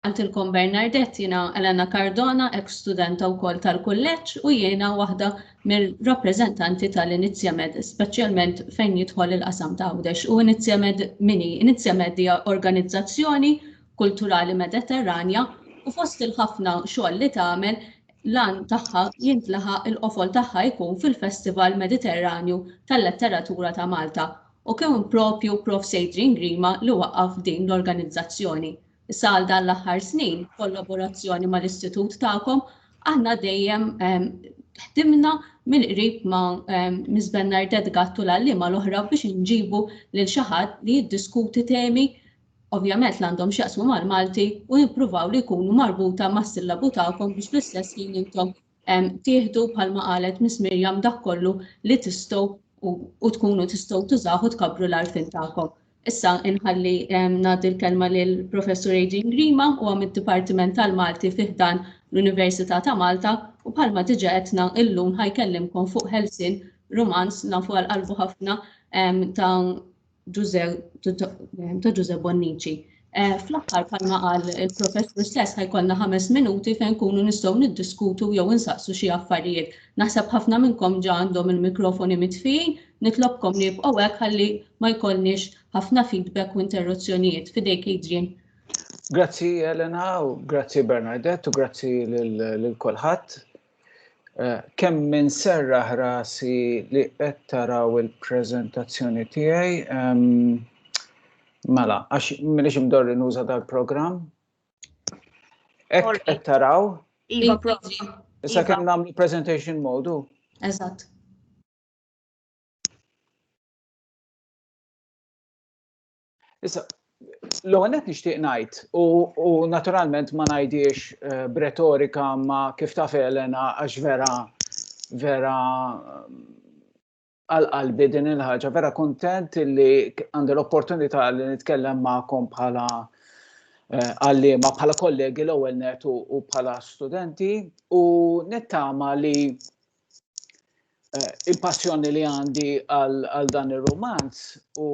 Għaltilkom Bernardet, jiena Elena Cardona, ex studenta wkoll tal-kulleġġ u jiena waħda mir-rappreżentanti tal-Inizjamed, speċjalment fejn jidħol il-qasam ta' Għawdex. U Inizjamed mini, Inizjamed hija organizzazzjoni kulturali Mediterranja u fost il-ħafna xogħol li tagħmel l-għan tagħha jintlaħaq il-qofol tagħha jkun fil-Festival Mediterranju tal-Letteratura ta' Malta U kien proprju Prof. Adrian Grima li waqqaf din l-organizzazzjoni. Issa għal dan l-aħħar snin, b'kollaborazzjoni mal-Istitut tagħkom, aħna dejjem ħdimna mill-qrib ma' Miss Bernardette Gatt u l-għalliema l-oħra biex inġibu lil xi ħadd li jiddiskuti temi ovvjament li għandhom x'jaqsmu mal-Malti u nippruvaw li jkunu marbuta mas-sillabu tagħkom biex fl-istess ħin intom Tieħdu bħalma qalet Miss Miriam dak kollu li tistgħu u tkunu tistgħu tużaw u tkabbru l-għarfien tagħkom. Issa inħalli ngħaddi l-kelma lil Professur Adrian Grima u għam id-Dipartiment tal-Malti fiħdan l-Università ta' Malta u bħalma diġa għetna illum ħajkellimkom fuq Helsin Rumans nafu għal qalbu ħafna ta' ta' Ġuże Bonnici. Eh, fl-aħħar bħalma qal il-professur stess ħajkollna ħames minuti fejn kunu nistgħu niddiskutu jew insaqsu xi affarijiet. Naħseb ħafna minnkom ġa għandhom il-mikrofoni mitfijin, nitlobkom li jibqgħu hekk ħalli ma jkollniex ħafna feedback u interruzzjonijiet. Fidejk Adrian. Grazzi Elena u grazzi Bernadette u grazzi lil kulħadd. Eh, kemm minn serraħ rasi li qed taraw il-preżentazzjoni tiegħi. Mela, għax m'iniex imdorri nuża dal-programm. Hekk qed taraw. Iva, iva. Issa kemm nagħmlu presentation modu. Eżatt. Issa, l-ewwel qed nixtieq ngħid u naturalment ma ngħidiex eh, b'retorika ma kif taf Elena għax vera vera għal qalbi din il-ħaġa, vera kontent li għandi l-opportunità li nitkellem magħkom bħala eh, għallima bħala kollegi l-ewwel net u bħala studenti u nittama li il-passjoni li għandi għal dan ir-rumanz u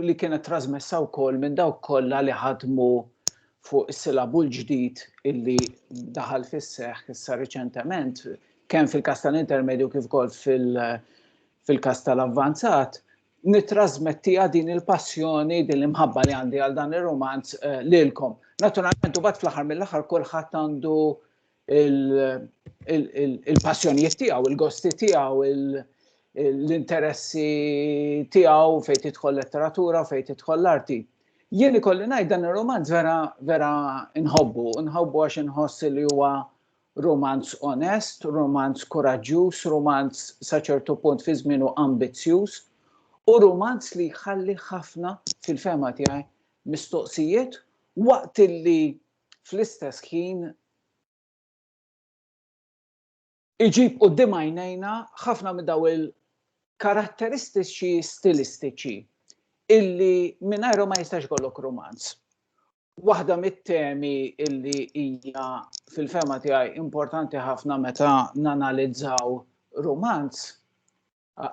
li kienet trasmessa wkoll minn dawk kollha li ħadmu fuq is-silabu l-ġdid illi daħal fis-seħħ issa riċentement kemm fil-kas tal-intermedju kif ukoll fil-kas tal-avvanzat, nitrasmettija din il-passjoni, din l-imħabba li għandi għal dan ir-romanz eh, lilkom. Naturalment, u bat fl-aħħar mill-aħħar kulħadd għandu il-passjonijiet tiegħu, il-gosti tiegħu, l-interessi tiegħu fejn tidħol letteratura, fejn tidħol l-arti. Jien ikolli ngħid dan ir-romanz vera vera nħobbu, nħobbu għax inħoss li huwa romanz onest, romanz kuraġġjuż, romanz sa ċertu punt fi żmienu ambizzjuż, u romanz li jħalli ħafna fil-fema tiegħi mistoqsijiet waqt li fl-istess ħin iġib quddiem għajnejna ħafna minn daw il-karatteristiċi stilistiċi illi mingħajrhom ma jistax ikollok romanz. Waħda mit-temi illi hija fil-fema tiegħi importanti ħafna meta nanalizzaw romanz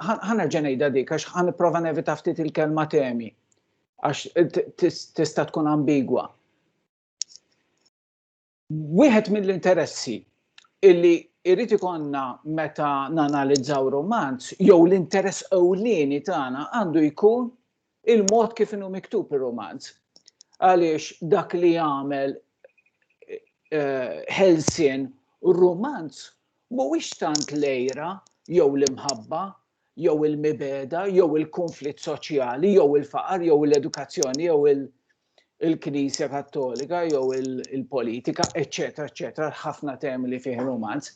Ħanerġa' ngħidha dik għax ħa nipprova nevita ftit il-kelma temi għax tista' tkun ambigwa. Wieħed mill-interessi illi irrid ikonna meta nanalizzaw romanz jew l-interess ewlieni tagħna għandu jkun il-mod kif inhu miktub ir-rumanz. Għaliex dak li jagħmel ħelsien rumanz mhuwiex tant l-għira jew l-imħabba jew il-mibegħda jew il-kunflitt soċjali jew il-faqar jew l-edukazzjoni jew il- il-Knisja Kattolika jew il-politika, eċetera, eċetera, ħafna temi li fih romanz,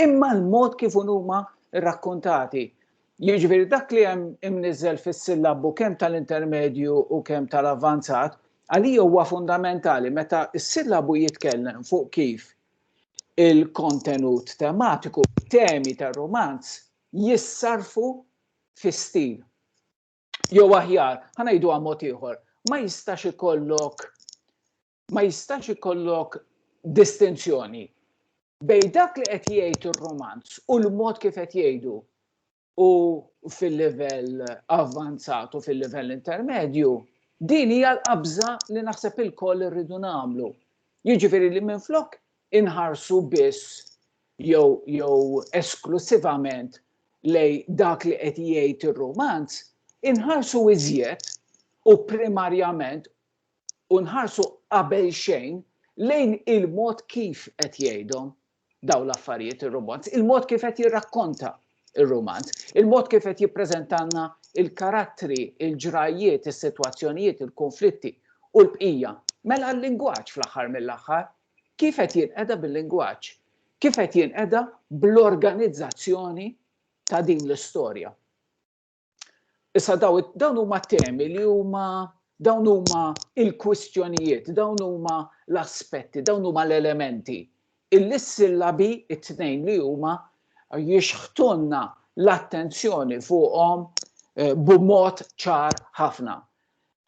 imma l-mod kif huma rrakkontati. Jiġifieri dak li hemm imniżel fis-sillabu kemm tal-intermedju u kemm tal-avvanzat, għalija huwa fundamentali meta s-sillabu jitkellem fuq kif il-kontenut tematiku, temi tar-romanz jissarfu fi stil. jew aħjar, ħa ngħidu mod ieħor, ma jistax ikollok ma jistax ikollok distinzjoni bej dak li qed jgħid ir-romanz u l-mod kif qed jgħidu u fil-livell avvanzat u fil-livell intermedju, din hija l-qabża li naħseb il-koll irridu nagħmlu. Jiġifieri li minflok inħarsu biss jew jew esklussivament lejn dak li qed jgħid ir-rumanz, inħarsu iżjed u primarjament u nħarsu qabel xejn lejn il-mod kif qed jgħidhom dawn l-affarijiet ir-rumanz, il-mod kif qed jirrakkonta ir-rumanz, il-mod kif qed jippreżentalna il-karattri, il-ġrajjiet, is-sitwazzjonijiet, il-kunflitti u l-bqija. Mela l-lingwaġġ fl-aħħar mill-aħħar, Kif qed jinqeda bil-lingwaġġ? Kif qed jinqeda bl-organizzazzjoni ta' din l-istorja? Issa dawn huma t-temi li huma dawn huma l-kwistjonijiet, dawn huma l-aspetti, dawn huma l-elementi. Illi s-sillabi t-tnejn li huma jixħtunna l-attenzjoni fuqhom eh, b'mod ċar ħafna.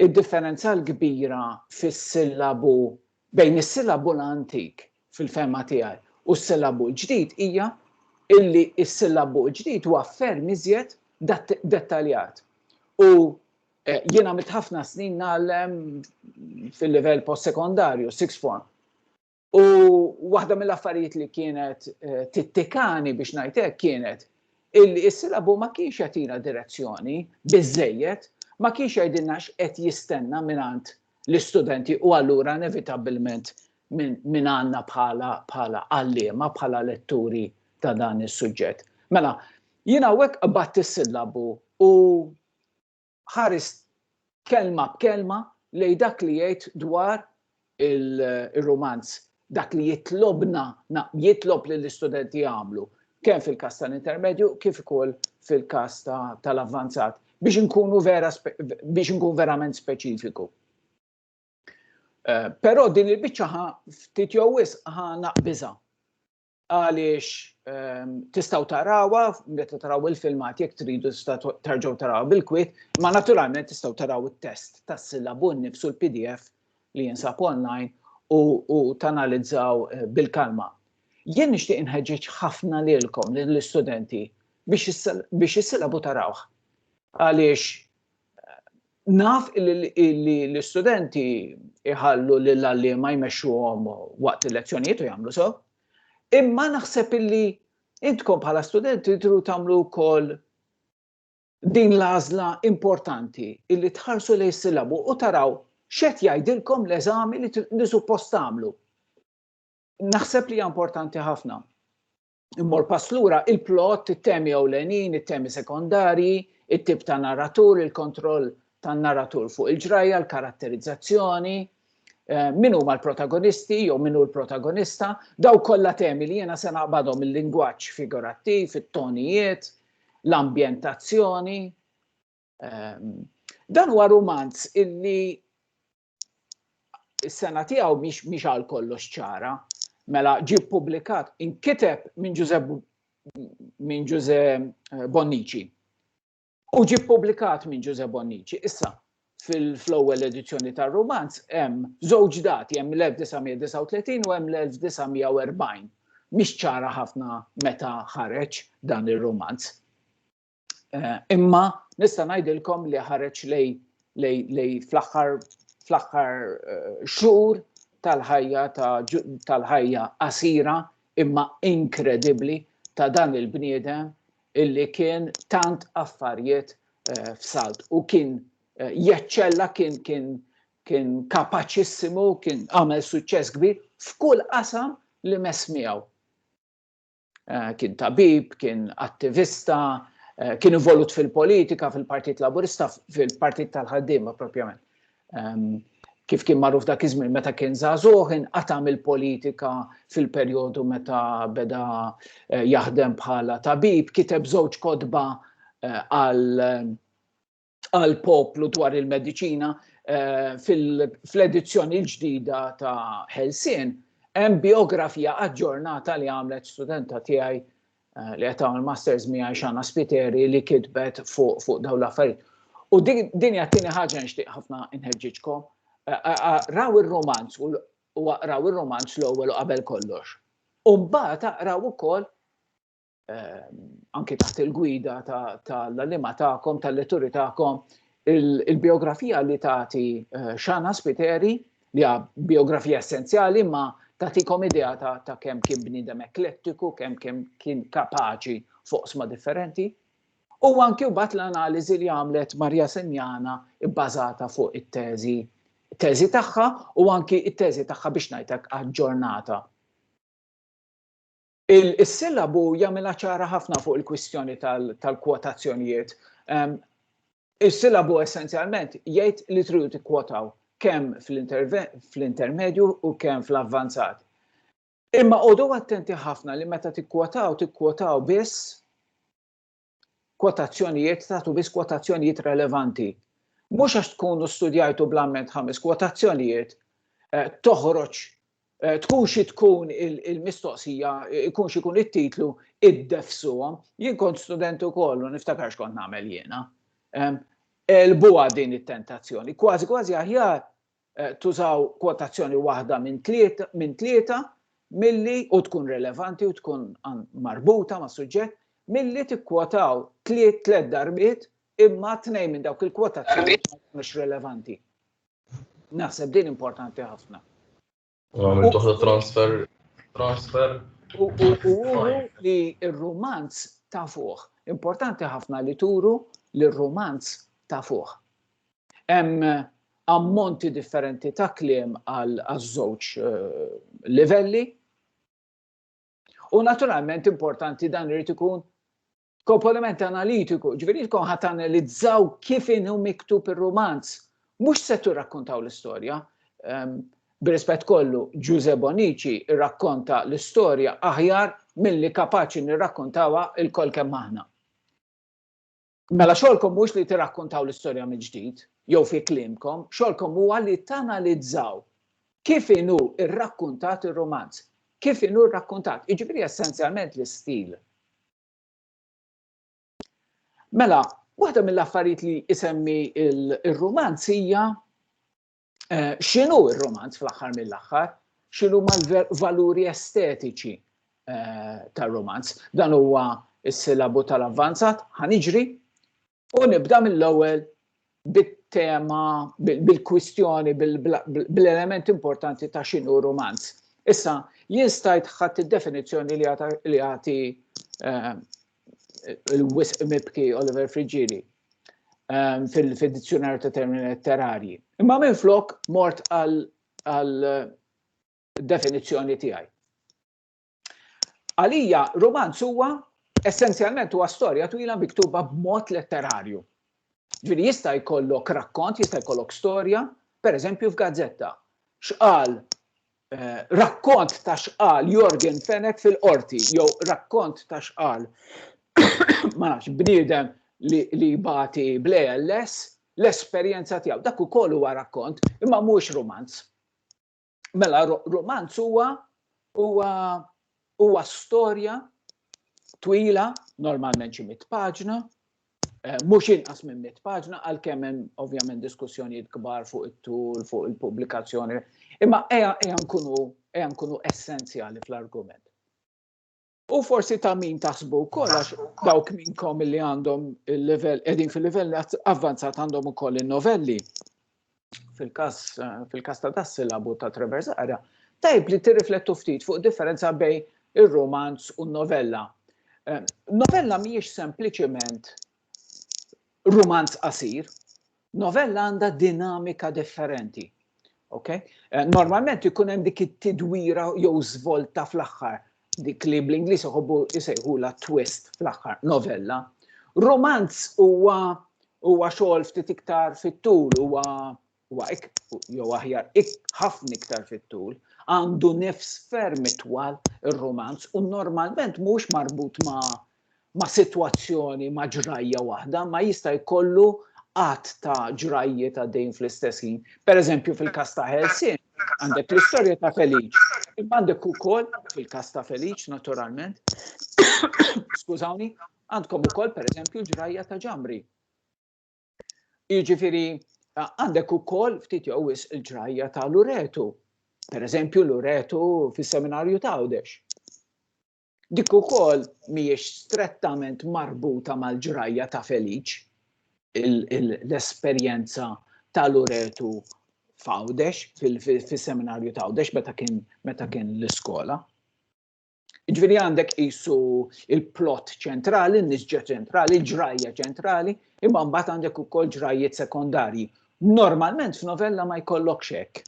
Id-differenza l-kbira fis-sillabu bejn is-sillabu l-antik, fil-fehma tiegħi, u s-sillabu l-ġdid hija illi s-sillabu l-ġdid huwa ferm iżjed dettaljat. U jien għamilt ħafna snin ngħallem fil-livell post-sekondarju, sixth form. U waħda mill-affarijiet li kienet eh, tittikani biex ngħidlek kienet illi s-silabu ma kienx jatina direzzjoni biżejjed, ma kienx jgħidilna x'qed jistenna mingħand l-istudenti u allura inevitabbilment minn għandna bħala bħala għalliema bħala letturi ta' dan is-suġġett. Mela, jiena hawnhekk qabatt is-sillabu u ħares kelma b'kelma lejn dak li jgħid dwar il-rumanz dak li jitlobna jitlob lill-istudenti jagħmlu kemm fil-każ tal-intermedju kif ukoll fil-każ tal-avvanzat biex inkunu vera biex inkun verament speċifiku. Eh, però din il-biċċa ftit jew wisq ħa naqbiża. għaliex tistgħu tarawha meta taraw il-filmat jekk tridu tarġgħu tarawha bil-kwit, ma naturalment tistgħu taraw it-test tas-sillabu nnifsu l-PDF li jinsab online u tanalizzaw eh, bil-kalma. Jien nixtieq inħeġġeġ ħafna lilkom lill-istudenti biex is-sillabu tarawh. Għaliex Naf li l-istudenti jħallu lill-għalliema jmexxuhom waqt il-lezzjonijiet u jagħmlu so, imma naħseb illi intkom bħala studenti tru tagħmlu wkoll din l-għażla importanti illi tħarsu lejn sillabu u taraw x'qed jgħidilkom l-eżami li suppost tagħmlu. Naħseb li hija importanti ħafna. immor pass lura il-plot, it-temi ewlenin, it-temi sekondarji, it-tip ta' narratur, il-kontroll tan-narratur fuq il-ġrajja, l-karatterizzazzjoni, eh, min huma l-protagonisti jew min hu l-protagonista, daw kollha temi li jiena se naqbadhom il-lingwaġġ figurattiv, it-tonijiet, l-ambjentazzjoni. Ehm, dan huwa rumanz illi is-sena tiegħu mhix għal kollox ċara. Mela ġie ppubblikat inkiteb minn Ġuże minn Ġuże eh, Bonnici. U ġie ppubblikat minn Ġuże Bonnici. Issa, fil-ewwel edizzjoni tar-romanz hemm żewġ dati hemm l-1939 u hemm l-1940. Mhix ċara ħafna meta ħareġ dan ir-romanz. Eh, imma nista' ngħidilkom li ħareġ lej lej lej fl-aħħar fl-aħħar eh, xhur tal-ħajja tal-ħajja qasira imma inkredibbli ta' dan il-bniedem illi kien tant affarijiet eh, f'salt u kien jeċċella kien kien kien kapaċissimu, kien għamel suċċess kbir f'kull qasam li mesmijaw. Eh, kien tabib, kien attivista, eh, kien involut fil-politika, fil-Partit Laburista, fil-Partit tal-ħaddiema propjament. Ehm, kif kien magħruf dak iż-żmien meta kien żagħżugħ inqatam il-politika fil-perjodu meta beda eh, jaħdem bħala tabib, kiteb żewġ kodba għal għall-poplu dwar il-mediċina eh, fl-edizzjoni l-ġdida ta' Helsien hemm biografija aġġornata li għamlet studenta tiegħi eh, li qed tagħmel masters miegħi xana spiteri li kitbet fuq fu dawn l-affarijiet. U din hija tieni ħaġa nixtieq ħafna inħeġġiġkom. Eh, eh, raw ir-romanz u raw ir-romanz l-ewwel u qabel kollox. U mbagħad aqraw ukoll ehm, anke taħt il-gwida tal-lima tagħkom, tal-letturi tagħkom, il-biografija li tagħti eh, xana spiteri li hija biografija essenzjali ma tagħtikom idea ta' kemm kien bniedem eklettiku, kemm kemm kien kapaċi fuq sma differenti. U anki wbat l-analiżi li għamlet Marja Senjana bbażata fuq it-teżi teżi tagħha u anki it-teżi tagħha biex ngħidlek aġġornata. Is-sillabu jagħmilha ċara ħafna fuq il-kwistjoni tal-kwotazzjonijiet. Is-sillabu essenzjalment jgħid li tridu tikkwotaw kemm fl-intermedju u kemm fl-avvanzat. Imma għodu attenti ħafna li meta tikkwotaw, tikkwotaw biss kwotazzjonijiet tagħtu biss kwotazzjonijiet relevanti. Mhux għax tkunu studjajtu bl-amment ħames kwotazzjonijiet eh, toħroġ eh, tkun xi tkun il-mistoqsija, ikun xi kun it-titlu id-defsuhom. Jien kont student ukoll u niftakarx kont nagħmel jiena. Elbuha din it-tentazzjoni. Kważi kważi aħjar tużaw kwotazzjoni waħda minn tlieta milli u tkun relevanti u tkun marbuta mas-suġġett, milli tikkwotaw tliet darbiet imma tnejn minn dawk il-kwotazzjonijiet ma jkunux relevanti. Naħseb din importanti ħafna. Għamil toħda transfer, transfer. U li il-romanz ta' fuq. Importanti ħafna li turu li il-romanz ta' fuq. Hemm eh, ammonti differenti ta' kliem għal żewġ eh, livelli. U naturalment importanti dan irid ikun komponiment analitiku, ġifieri tkun ħadd analizzaw kif inhu miktub ir-rumanz. Mhux se tirrakkontaw l-istorja. Ehm, b'rispett kollu, Ġuże Bonici rrakkonta l-istorja aħjar milli kapaċi nirrakkontawha il-kol kemm aħna. Mela xogħolkom mhux li tirrakkontaw l-istorja mill-ġdid, jew fi klimkom, xogħolkom huwa li tanalizzaw kif inhu rrakkuntat ir-romanz, kif inhu rrakkuntat, jiġifieri essenzjalment l-istil Mela, waħda mill-affarijiet li isemmi il-romanz hija eh, x'inhu ir-romanz fl-aħħar mill-aħħar, x'inhu mal-valuri estetiċi eh, tar-romanz. Dan huwa s-silabu tal-avvanzat, ħaniġri, U nibda mill-ewwel bit-tema, bil-kwistjoni, bil-element importanti ta' xinu romanz. Issa, jien stajt ħadd id-definizzjoni li jagħti eh, il-wisq mibki Oliver Friggili eh, fil-dizzjonarju ta' termini letterarji. Imma minn flok mort għal definizzjoni tiegħi. Għalija romanz huwa essenzjalment huwa storja twila miktuba b'mod letterarju. Ġifieri jista' jkollok rakkont, jista' jkollok storja, pereżempju f'gazzetta. X'qal eh, rakkont ta' x'qal Jorgen Fenek fil-qorti jew rakkont ta' x'qal ma nafx bniedem li, li bati bl-ALS l-esperjenza tiegħu. Dak ukoll huwa rakkont imma mhux romanz. Mela, romanz huwa huwa huwa storja twila, normalment xi mit paġna, eh, mhux inqas minn mit paġna, għalkemm hemm ovvjament diskussjonijiet kbar fuq it-tul, fuq il-pubblikazzjoni, imma eja eja nkunu eja nkunu essenzjali fl-argument. U forsi ta' min taħsbu wkoll għax dawk minnkom li għandhom il-level, qegħdin fil-livell avvanzat għandhom ukoll in-novelli. Fil-każ fil-każ ta' das silabu ta' Trevor Zara, tajb li tirriflettu ftit fuq differenza bejn ir-romanz u n-novella. Eh, novella mhijiex sempliċement rumanz qasir, novella għandha dinamika differenti. Okay? Eh, normalment ikun hemm dik it-tidwira jew żvolta fl-aħħar dik li bl-Ingliż iħobbu jisejħu la twist fl-aħħar novella. Romanz huwa huwa xogħol ftit iktar fit-tul huwa huwa jew aħjar ħafna iktar fit-tul, għandu nifs ferm itwal ir-rumanz u normalment mhux marbut ma' ma' sitwazzjoni ma' ġrajja waħda, ma jista' jkollu qatt ta' ġrajjiet għaddejn fl-istess ħin. Pereżempju fil-każ ta' Helsin, għandek l-istorja ta' Feliċ, imma għandek ukoll fil-każ ta' Feliċ naturalment, skużawni, għandkom ukoll pereżempju ġrajja ta' Ġamri Jiġifieri għandek ukoll ftit jew wis il-ġrajja ta' Luretu. Per eżempju, Luretu fis-seminarju ta' Għawdex. Dik ukoll mhijiex strettament marbuta mal-ġrajja ta' Feliċ l-esperjenza ta' Luretu f'Għawdex, fis-seminarju ta' Għawdex meta kien meta kien l-iskola. Ġviri għandek jisu il-plot ċentrali, nisġa ċentrali, ġrajja ċentrali, imma mbagħad għandek ukoll ġrajjiet sekondarji. Normalment f'novella ma jkollokx hekk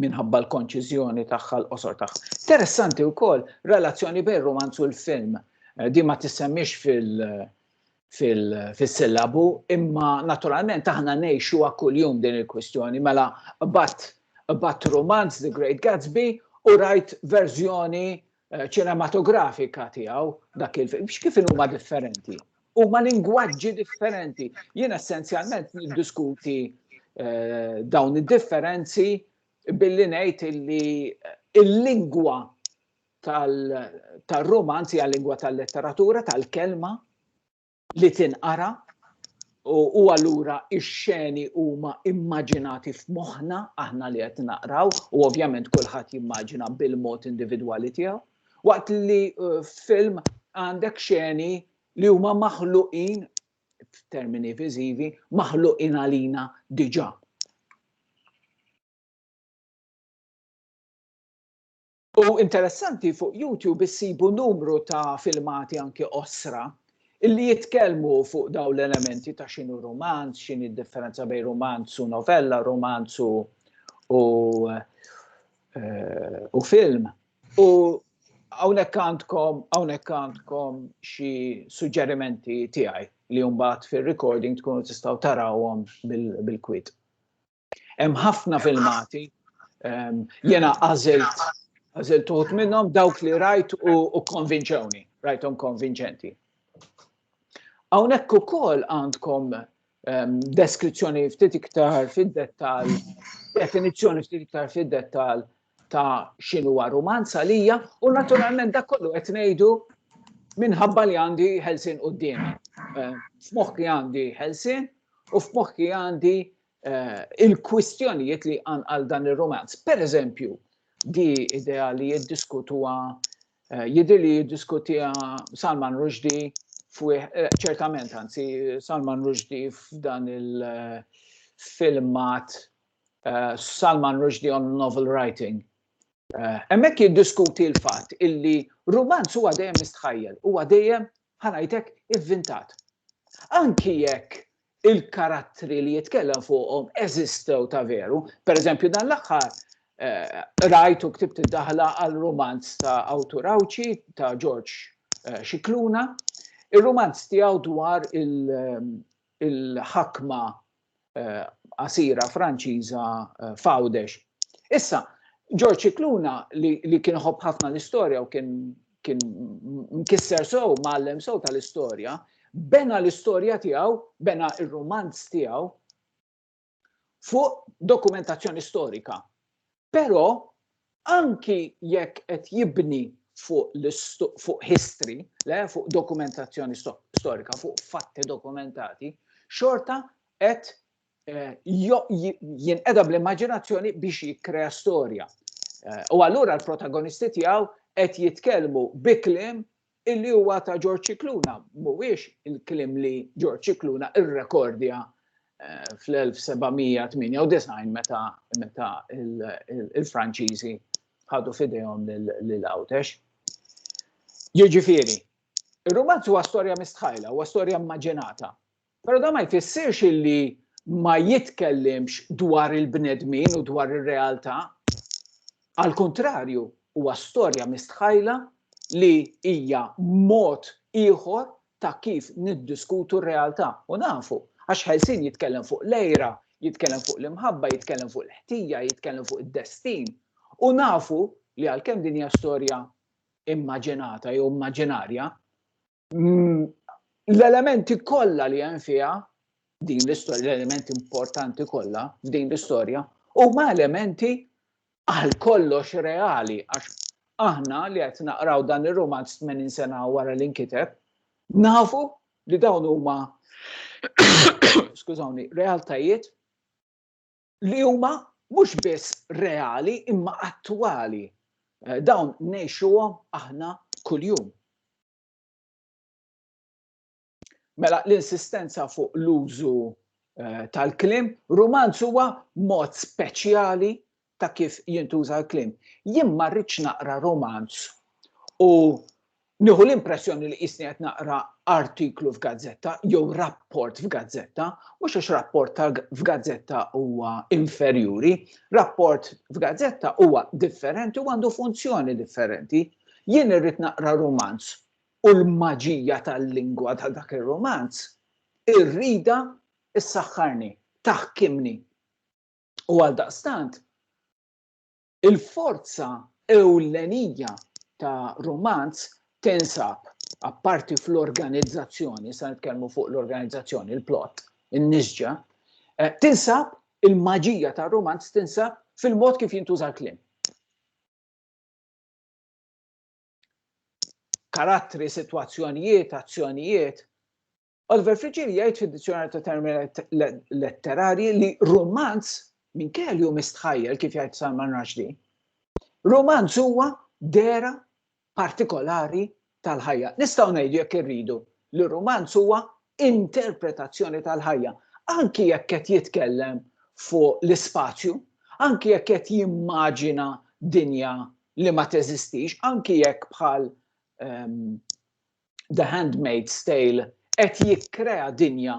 minħabba l-konċiżjoni tagħha l-qosor tagħha. Interessanti wkoll relazzjoni bejn romanz u l-film. Eh, di ma tissemmix fil- fis-sillabu, imma naturalment aħna ngħixu kuljum din il-kwistjoni. Mela bat romanz The Great Gatsby u rajt verżjoni eh, ċinematografika tiegħu dak il-film. X'kif huma differenti? Huma lingwaġġi differenti. Jien essenzjalment niddiskuti eh, dawn id-differenzi billi ngħid illi eh, il-lingwa tal-romanzi għal-lingwa tal-letteratura, tal-kelma li tinqara u allura ix-xeni huma immaġinati f'moħħna aħna li qed naqraw u ovvjament kulħadd jimmaġina bil-mod individwali tiegħu. Waqt li eh, f'film għandek xeni li huma maħluqin f'termini viżivi maħluqin għalina diġà U interessanti fuq YouTube issibu numru ta' filmati anki qosra illi jitkellmu fuq daw l-elementi ta' xinu romanz, xini d-differenza bej romanz u novella, romanz u u, eh, u film. U hawnhekk għandkom hawnhekk għandkom xi suġġerimenti tiegħi li mbagħad fir-recording tkunu tistgħu tarawhom bil-kwit. Hemm ħafna filmati, ehm, jena għażilt għażilt uħut minnhom dawk li rajt u konvinċewni, rajthom konvinċenti. Hawnhekk ukoll għandkom ehm, deskrizzjoni ftit iktar fid-dettal, definizzjoni ftit iktar fid-dettal ta' xinu romanz għalija u naturalment dak kollu qed ngħidu minħabba li għandi ħelsin quddiem. Ehm, f'moħħi għandi ħelsin u f'moħħi għandi eh, il-kwistjonijiet li għan għal dan ir-romanz. Per eżempju, di idea li jiddiskutuha eh, jidir li jiddiskutija Salman Rushdie fuq eh, ċertament anzi Salman Rushdie f'dan il-filmat Salman Rushdie on novel writing Eh, hemmhekk jiddiskuti l-fatt illi rumanz huwa dejjem mistħajjel, huwa dejjem Bħal għajtek ivvintat. Anki jekk il-karattri li jitkellem fuqhom eżistew ta' veru, pereżempju dan l-aħħar rajt u ktibt id-daħla għal rumanz ta' awtur Għawdxi ta' George Scicluna. Ir-rumanz tiegħu dwar il-ħakma eh, qasira Franċiża eh, Fawdex. Issa, George Cicluna li kien ħobb ħafna l-istorja u kien kien mkisser sow, mallem sow tal-istorja, bena l-istorja tiegħu, bena il rumanz tiegħu fuq dokumentazzjoni storika. Però anki jekk qed jibni fuq history, le fuq dokumentazzjoni storika, fuq fatti dokumentati, xorta qed eh, jinqeda bl-immaġinazzjoni biex jikkrea storja. Eh, u allura l-protagonisti tiegħu qed jitkellmu bi kliem Illi huwa ta' George Scicluna mhuwiex il-kliem li George Scicluna rrekordja fl-1798 meta meta il-Franċiżi ħadu f'idejhom lil Għawdex. Jiġifieri, ir-rumanz huwa storja mistħajla, huwa storja immaġinata. Però dan ma jfissirx li ma jitkellimx dwar il-bnedmin u dwar ir-realtà. Għal kuntrarju, huwa storja mistħajla li hija mod ieħor ta' kif niddiskutu r-realtà. U nafu, għax Ħelsien jitkellem fuq l-għira, jitkellem fuq l-imħabba, jitkellem fuq il-ħtija, jitkellem fuq id-destin. U nafu li għalkemm din hija storja immaġinata jew immaġinarja, mm, l-elementi kollha li hemm fiha din l-istorja, l-elementi importanti kollha f'din l-istorja, huma elementi għal kollox reali, għax aħna li qed naqraw dan ir-romanz 80 sena wara li nkiteb, nafu li dawn huma skużawni, realtajiet li huma mhux biss reali imma attwali. Eh, dawn ngħixuhom aħna kuljum. Mela l-insistenza fuq l-użu eh, tal-klim, romanz huwa mod speċjali ta' kif jintuża l-klim. Jien ma rridx naqra romanz u Nieħu l-impressjoni li qisni qed naqra artiklu f'gazzetta jew rapport f'gazzetta, mhux għax rapport ta' f'gazzetta huwa inferjuri, rapport f'gazzetta huwa differenti u għandu funzjoni differenti. Jien irrid naqra rumanz u l-maġija tal-lingwa ta' dak ir-rumanz irridha ssaħħarni, taħkimni. U għaldaqstant, Il-forza ewlenija ta' rumanz tinsab, apparti fl-organizzazzjoni, issa nitkellmu fuq l-organizzazzjoni, il-plot, in-nisġa, tinsab, il-maġija tar-rumanz tinsab fil-mod kif jintuża l-kliem. Karattri, sitwazzjonijiet, azzjonijiet Oliver Frigili jgħid fid-Dizzjonarju ta' Termini Letterarji li rumanz minkejja li hu mistħajjel kif jgħid Salman Rushdie, rumanz huwa dera partikolari tal-ħajja. Nistgħu ngħidu jekk irridu li rumanz huwa interpretazzjoni tal-ħajja, anki jekk qed jitkellem fuq l-ispazju, anki jekk qed jimmaġina dinja li ma teżistix, anki jekk bħal ehm, The Handmaid's Tale qed jikkrea dinja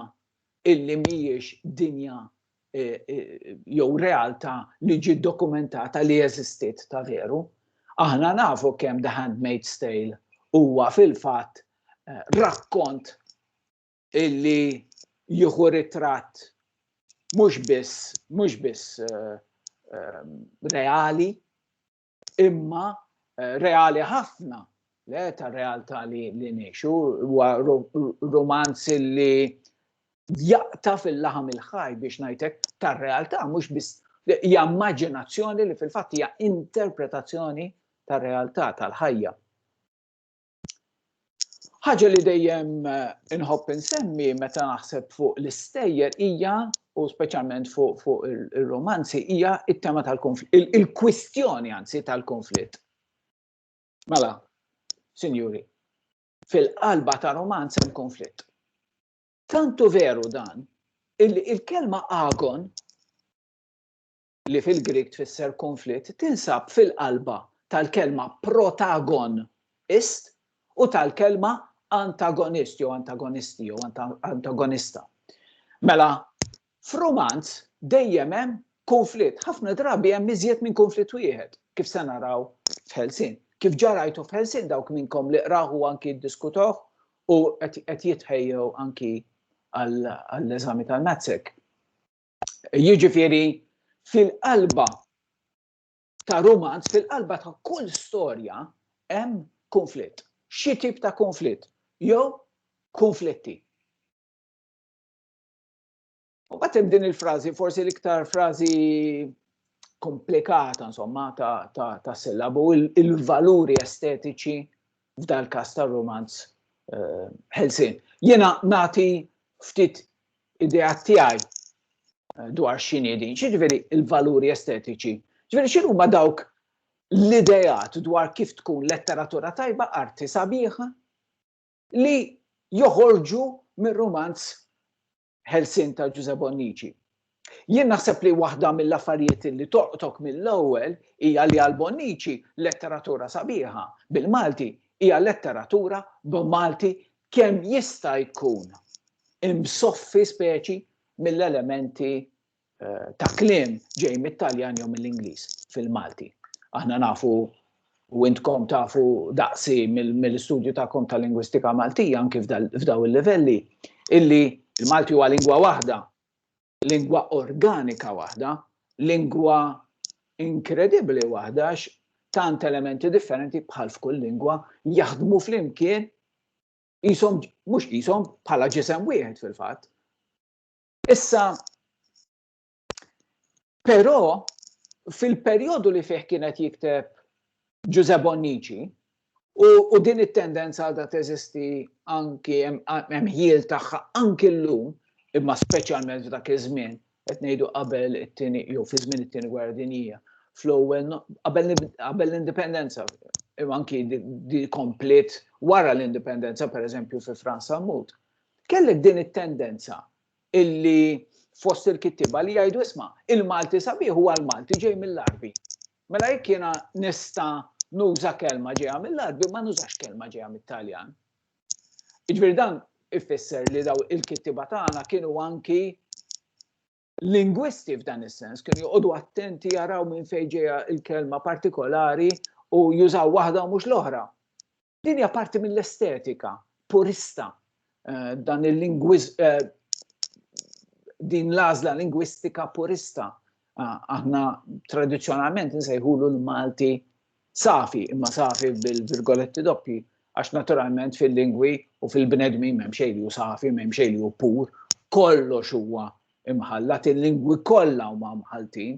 illi mhijiex dinja eh, eh, jew realtà li ġiet dokumentata li eżistiet ta' veru. Aħna nafu kemm The Handmaid's Tale huwa fil-fatt eh, rakkont illi jieħu ritratt mhux biss mhux biss reali imma eh, reali ħafna le ta' realtà li li ngħixu huwa romanz li jaqta fil-laħam il-ħaj biex ngħidlek tar-realtà mhux biss hija immaġinazzjoni li fil-fatt hija interpretazzjoni tar-realtà tal-ħajja. Ħaġa li dejjem eh, inħobb insemmi meta naħseb fuq l-istejjer hija u speċjalment fuq fu il-romanzi hija it-tema tal-konflitt, il-kwistjoni anzi tal-konflitt. Mela, sinjuri, fil-qalba ta' romanz hemm konflitt. Tantu veru dan, il-kelma agon li fil-Grieg tfisser kunflitt, tinsab fil-qalba tal-kelma protagon ist u tal-kelma antagonist jew antagonisti jew antagonista. Mela, f'rumanz dejjem hemm kunflitt, ħafna drabi hemm iżjed minn kunflitt wieħed, kif se naraw f'Ħelsien. Kif ġarajtu f'Ħelsien dawk minnkom li qraħu anki ddiskutoh u qed jitħejjew anki għall-eżami tal-Matsek. jiġifieri fil-qalba ta' rumanz, fil-qalba ta' kull storja hemm konflitt. Xi tip ta' konflitt jew konflitti. U bat hemm din il-frażi, forsi l-iktar frażi komplikata insomma ta', ta, ta sillabu, il-valuri estetiċi f'dal-każ tar-rumanz ħelsien. Jiena nagħti ftit idea tiegħi dwar x'inhi din, x'jiġifieri l-valuri estetiċi. Ġifieri x'inhuma dawk l-ideat dwar kif tkun letteratura tajba arti sabiħa li joħorġu mir-rumanz ħelsien ta' Ġużè Bonnici. Jien naħseb li waħda mill-affarijiet li toqtok mill-ewwel hija li għal Bonnici letteratura sabiħa bil-Malti hija letteratura b'Malti kemm jista' jkun imsoffi speċi mill-elementi eh, ta' kliem ġej mit-Taljan jew mill-Ingliż fil-Malti. Aħna nafu u intkom tafu daqsi mill-istudju tagħkom ta' lingwistika Maltija anki f'daw il-livelli illi il-Malti huwa lingwa waħda, lingwa organika waħda, lingwa inkredibbli waħda tant elementi differenti bħal f'kull lingwa jaħdmu flimkien jisom, mux jisom, bħala ġisem wieħed fil-fat. Issa, però, fil-perjodu li fih kienet jikteb Giuseppe Bonnici, u, u din it-tendenza għadha teżisti anki hemm ħiel tagħha anki llum, imma speċjalment f'dak iż-żmien, qed ngħidu qabel it-tieni jew fi żmien it-tieni gwerra dinjija, fl-ewwel qabel l-indipendenza, imma anki di kompliet wara l-indipendenza, pereżempju fi Franza Mut Kellek din it-tendenza illi fost il-kittiba li jgħidu isma' il-Malti sabiħ huwa l-Malti ġej mill-Arbi. Mela jekk jiena nista' nuża kelma ġejja mill-Arbi ma nużax kelma ġejja mit-Taljan. Iġbir dan ifisser li daw il-kittiba tagħna kienu anki lingwisti f'dan is-sens, kienu joqogħdu attenti jaraw minn fejn ġejja il-kelma partikolari u jużaw waħda u mhux l-oħra. Din hija parti mill-estetika purista eh, dan il-lingwiż eh, din l-għażla lingwistika purista. Ah, aħna tradizzjonalment nsejħulu l-Malti safi, imma safi bil-virgoletti doppi, għax naturalment fil-lingwi u fil-bnedmi m'hemm xejn li safi, m'hemm xejn li pur, kollox huwa imħallat, il-lingwi kollha huma mħaltin.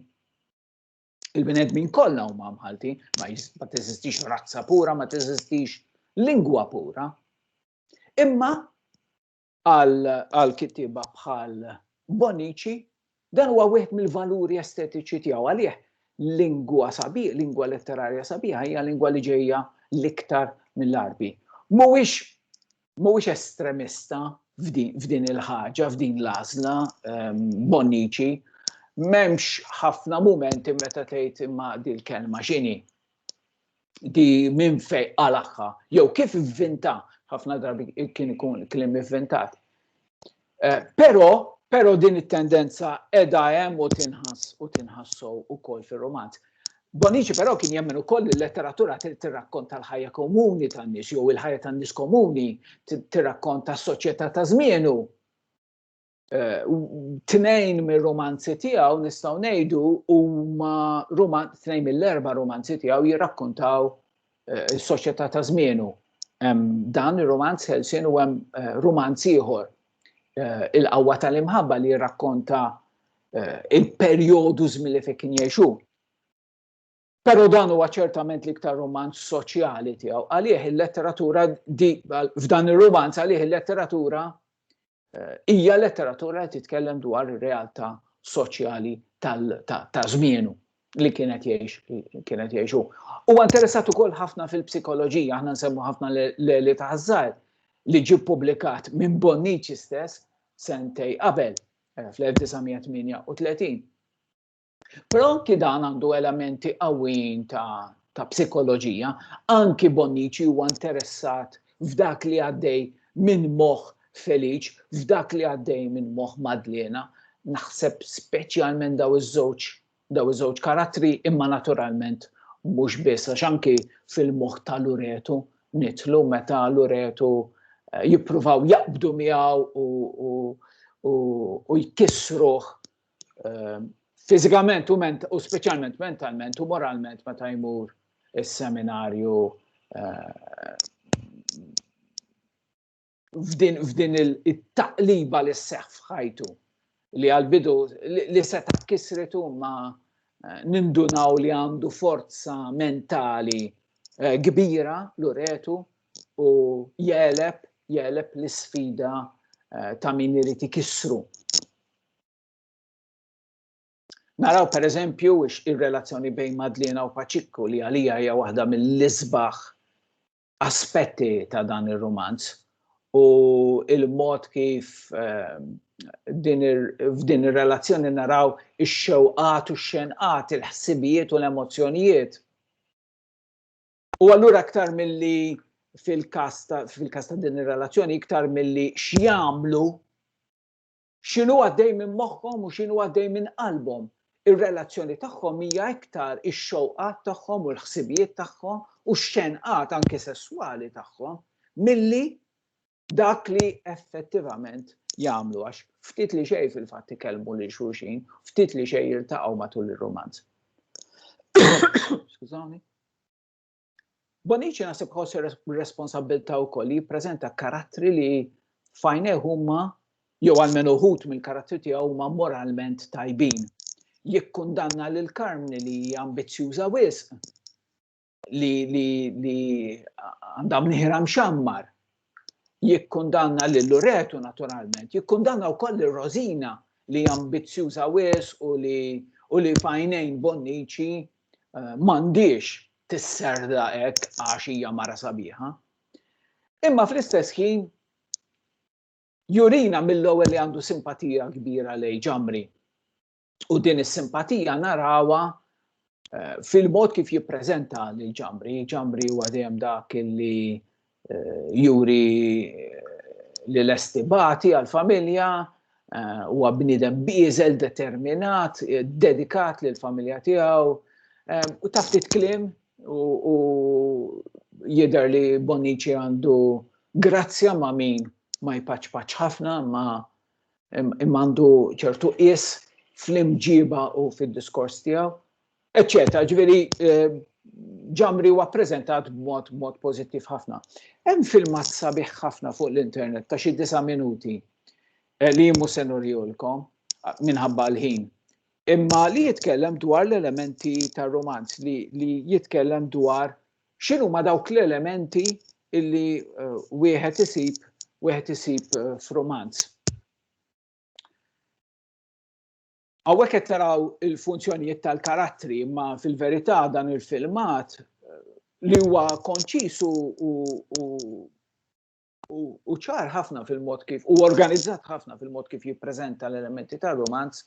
il-bnedmin kollha huma mħaltin, ma teżistix razza pura, ma teżistix lingwa pura. Imma għal kittiba bħal Bonici, dan huwa wieħed mill-valuri estetiċi tiegħu għalih lingwa sabi, lingwa letterarja sabiħa hija lingwa li ġejja l-iktar mill-arbi. Mhuwiex mhuwiex estremista f'din il-ħaġa, f'din l-għażla Bonnici, m'hemmx ħafna mumenti meta tgħid imma dil kelma x'inhi di minn fej għalaħħa, jew kif vvinta, ħafna drabi kien ikun klim vvintat. Eh, però Pero din it-tendenza edha hemm u tinħass u tinħassu wkoll fir-romanz. Bonici però kien jemmen ukoll li l-letteratura tirrakkonta l-ħajja komuni tan-nies jew il-ħajja tan-nies komuni tirrakkonta s-soċjetà ta' żmienu. Eh, tnejn mir-romanzi tiegħu nistgħu ngħidu huma tnejn mill-erba' romanzi tiegħu jirrakkontaw is-soċjetà ta' żmienu. Dan ir-romanz ħelsien u hemm eh, romanz ieħor eh, il-qawwa tal-imħabba li jirrakkonta eh, il-perjodu żmien li fejn kien jgħixu. Pero dan huwa ċertament l-iktar romanz soċjali tiegħu. Għalih il-letteratura f'dan ir-romanz għalih il-letteratura Hija letteratura li titkellem dwar ir-realtà soċjali ta' żmienu li kienet jgħix kienet jgħixu. Huwa interessat ukoll ħafna fil-psikoloġija, aħna nsemmu ħafna l-Eli ta' Ħażar li ġie ppubblikat minn Bonnici stess sentej qabel eh, fl-1938. Però anki dan għandu elementi qawwijin ta', ta psikoloġija, anki Bonnici huwa interessat f'dak li għaddej minn moħħ Feliċ, f'dak li għaddej minn moħħ Madlena, naħseb speċjalment daw iż-żewġ daw iż-żewġ karattri imma naturalment mhux biss għax anki fil-moħħ ta' Luretu nitlu meta Luretu eh, jippruvaw jaqbdu miegħu u, u, u, u jkissruh ehm, fizikament u, ment, u specialment mentalment u moralment meta jmur il-seminarju eh, f'din il-taqliba li s-seħ fħajtu li għal-bidu li seta kisritu ma eh, nindunaw li għandu forza mentali eh, kbira l-uretu u jeleb jeleb l-sfida ta' min irid ikissru Naraw per eżempju ir-relazzjoni bejn Madlena u Paċikku li għalija hija waħda mill-isbaħ aspetti ta' dan ir-rumanz u il-mod kif ehm, f'din ir-relazzjoni naraw ix-xewqat u x-xenqat, il-ħsibijiet u l-emozzjonijiet. U allura aktar milli fil-kas ta' din ir-relazzjoni iktar milli x'jagħmlu X'inhu għaddej minn moħħhom u x'inhu għaddej minn qalbhom. Ir-relazzjoni tagħhom hija iktar ix-xewqat tagħhom u l-ħsibijiet tagħhom u x-xenqat anke sesswali tagħhom milli dak li effettivament jagħmlu għax ftit li xejn fil-fatt ikellmu lil xulxin, ftit li xejn jiltaqgħu matul ir-rumanz. Skużani. Bonnici naħseb ħoss ir-responsabbiltà wkoll li jippreżenta karattri li fajnejh huma jew għalmenu uħud mill-karattri tiegħu huma moralment tajbin. Jikkundanna lil Karmni li hija ambizzjuża wisq li li li għandha mnieħra mxammar jikkundanna lil Luretu naturalment, jikkundanna wkoll lil Rosina li ambizzjuża wis u li u li fajnejn Bonnici eh, m'għandix tisserda hekk għax hija mara sabiħa. Imma fl-istess ħin jurina mill-ewwel li għandu simpatija kbira lej ġamri. U din is-simpatija narawha eh, fil-mod kif jippreżenta lil ġambri. Ġambri huwa dejjem dak li eh, juri li l-estibati għal-familja eh, huwa bniedem bieżel determinat, eh, dedikat lil familja tiegħu eh, u taf titklim u jidher li Bonici għandu grazzja ma' min ma jpaċpaċ ħafna ma' imma għandu ċertu qies fl-imġiba u fid-diskors tiegħu, eċċetera. Ġifieri ġamri huwa ppreżentat b'mod mod pożittiv ħafna. Hemm filmat sabiħ ħafna fuq l-internet ta' xi disa' minuti eh, li jimmu se nurjulkom minħabba l-ħin. Imma li jitkellem dwar l-elementi tar-romanz li, li jitkellem dwar X'inhuma dawk l-elementi illi eh, wieħed isib wieħed isib eh, f'romanz? Għawek qed taraw il-funzjonijiet tal-karattri, ma fil-verità dan il-filmat eh, li huwa konċis u ċar ħafna fil-mod kif u organizzat ħafna fil-mod kif jippreżenta l-elementi tal-romanz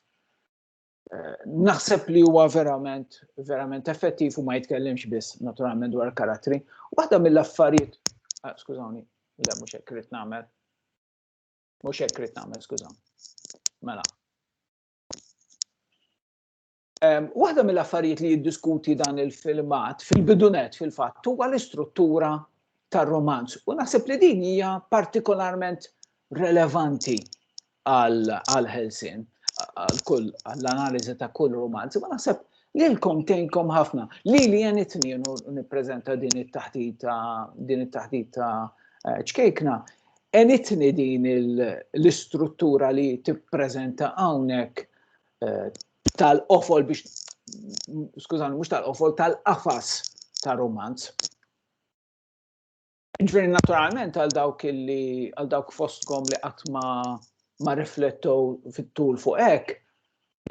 naħseb li huwa verament, verament effettiv u ma jitkellimx biss naturalment dwar karattri. Waħda mill-affarijiet, ah, skużawni, le mhux hekk rrid nagħmel. Mhux hekk rrid nagħmel, skużawni. Mela. Um, waħda mill-affarijiet li jiddiskuti dan il-filmat fil-bidunet fil-fatt huwa l-istruttura tar-romanz u naħseb li din hija partikolarment relevanti għal-ħelsien, għal-kull, għall-analizi ta' kull romanzi, ma naħseb li l-kom tenkom ħafna. Li li jenitni jenu niprezenta din it-taħtita, din it-taħtita eh, ċkejkna, enitni din l-istruttura li tipprezenta għawnek eh, tal-qofol biex, skużan, mux tal-qofol, tal-qafas ta' romanz. Ġifieri naturalment għal dawk illi għal dawk fostkom li qatt ma ma riflettow fit-tul fuq hekk,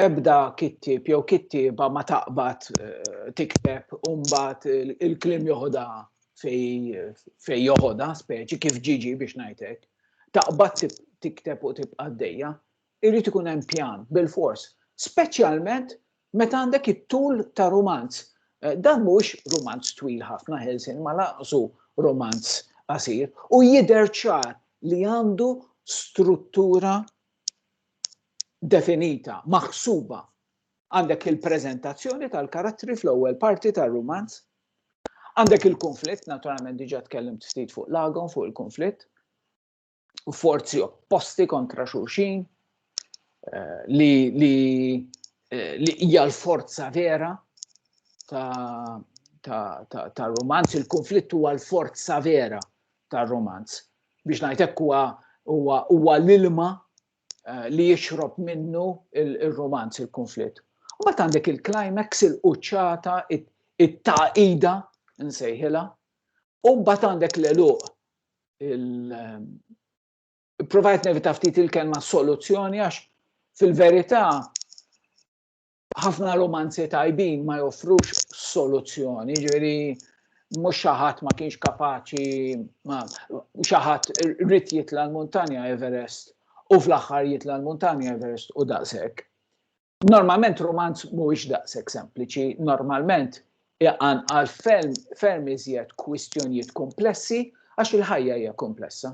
ebda kittib jew kittieba ma taqbad eh, tikteb u mbagħad il-kliem joħodha fej joħodha speċi kif ġiġi biex ngħidlek. Taqbad tikteb u tibqa' għaddejja. Irid ikun hemm pjan bilfors, speċjalment meta għandek it-tul ta' rumanz. Dan mhuwiex rumanz twil ħafna, ħelsien ma lanqsu rumanz qasir, u jidher ċar li għandu struttura definita, maħsuba. Għandek il-preżentazzjoni tal-karattri fl-ewwel parti tar-rumanz, għandek il-kunflitt, naturalment diġà tkellimt ftit fuq Lagon, fuq il-kunflitt, forzi opposti kontra xulxin eh, li li eh, li hija l-forza vera ta' ta', ta, ta romanz, il-konflitt huwa l-forza vera ta' romanz. Biex ngħidlek huwa huwa huwa l-ilma eh, li jixrob minnu il-romanz il il-konflitt. U bat għandek il-climax il-quċċata it-taqida nsejħilha, u bat għandek l-eluq il-provajt nevita ftit il-kelma soluzzjoni għax fil-verità ħafna romanzi tajbin ma joffrux soluzzjoni, ġveri mux xaħat ma kienx kapaċi, ma xaħat rrit jitla l-montanja Everest u fl-axħar jitla l-montanja Everest u daqsek. Normalment rumanz mhuwiex daqshekk sempliċi, normalment iqan għal ferm iżjed kwistjonijiet komplessi għax il-ħajja hija komplessa.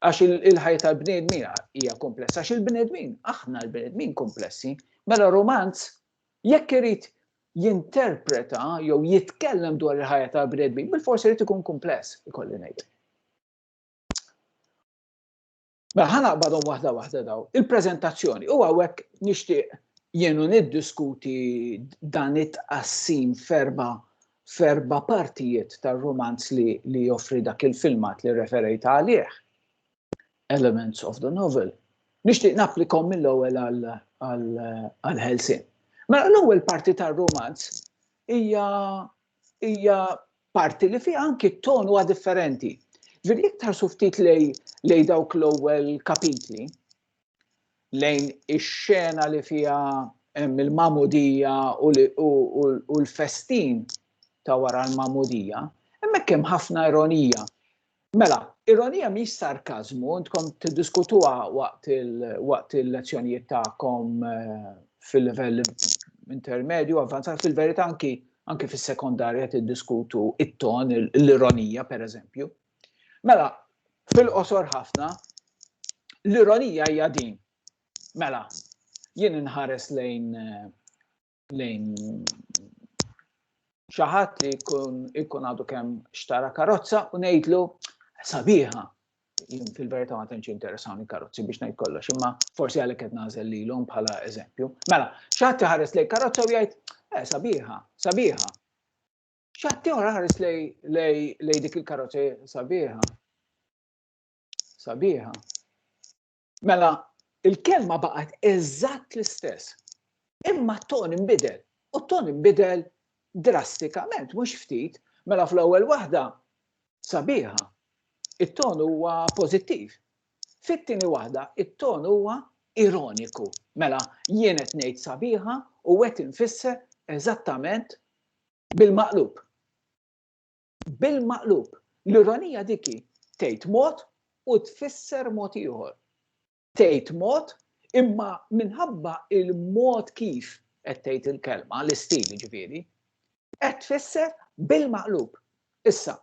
Għax il-ħajja tal-bnedmin hija komplessa, għax il-bnedmin, aħna l-bnedmin komplessi, mela romanz jekk irid jinterpreta jew jitkellem dwar il-ħajja ta' bredbi, bil-forsi irid ikun kumpless, ikolli ngħid. Mela ħa naqbadhom waħda waħda daw. Il-preżentazzjoni u hawnhekk nixtieq jienu niddiskuti dan it-tqassim ferba ferba partijiet tar-romanz li, li joffri dak il-filmat li referejt għalih. Elements of the novel. Nixtieq napplikom mill-ewwel għal-ħelsin. Mela l-ewwel parti tar-romanz hija hija parti li fiha anki t-ton huwa differenti. Ġifieri jekk tħarsu ftit lej lej dawk l-ewwel kapitli lejn ix-xena li fiha hemm il-mamudija u l-festin ta' wara l-mamudija, hemmhekk hemm ħafna ironija. Mela, ironija mhix sarkażmu, intkom tiddiskutuha waqt waqt il-lezzjonijiet tagħkom eh, fil-livell intermedju, avvanzat fil-verità anki anki fis-sekondarja tiddiskutu it-ton, l-ironija pereżempju. Mela, fil-qosor ħafna, l-ironija hija din. Mela, jien inħares lejn eh, lejn xi ħadd li jkun ikun għadu kemm xtara karozza u ngħidlu sabiħa. Fil-verità ma tantx interessawni karozzi biex ngħid kollox, imma forsi għalhekk qed nażel lilhom bħala eżempju. Mela, x'ħadd iħares lejn karozza u jgħid eh sabiħa, sabiħa. X'ħadd ieħor ħares lejn dik il-karozza sabiħa. Sabiħa. Mela, il-kelma baqgħet eżatt l-istess. Imma t-ton imbidel. U t-ton imbidel drastikament, mhux ftit. Mela fl-ewwel waħda sabiħa, it-ton huwa pożittiv. Fit-tieni waħda, it-ton huwa ironiku. Mela, jien qed ngħid sabiħa u qed infisser eżattament bil-maqlub. bil-maqlub. L-ironija dik hi tgħid mod u tfisser mod ieħor. Tgħid mod imma minħabba il-mod kif qed tgħid il-kelma, l-istil ġifieri, qed tfisser bil-maqlub. Issa,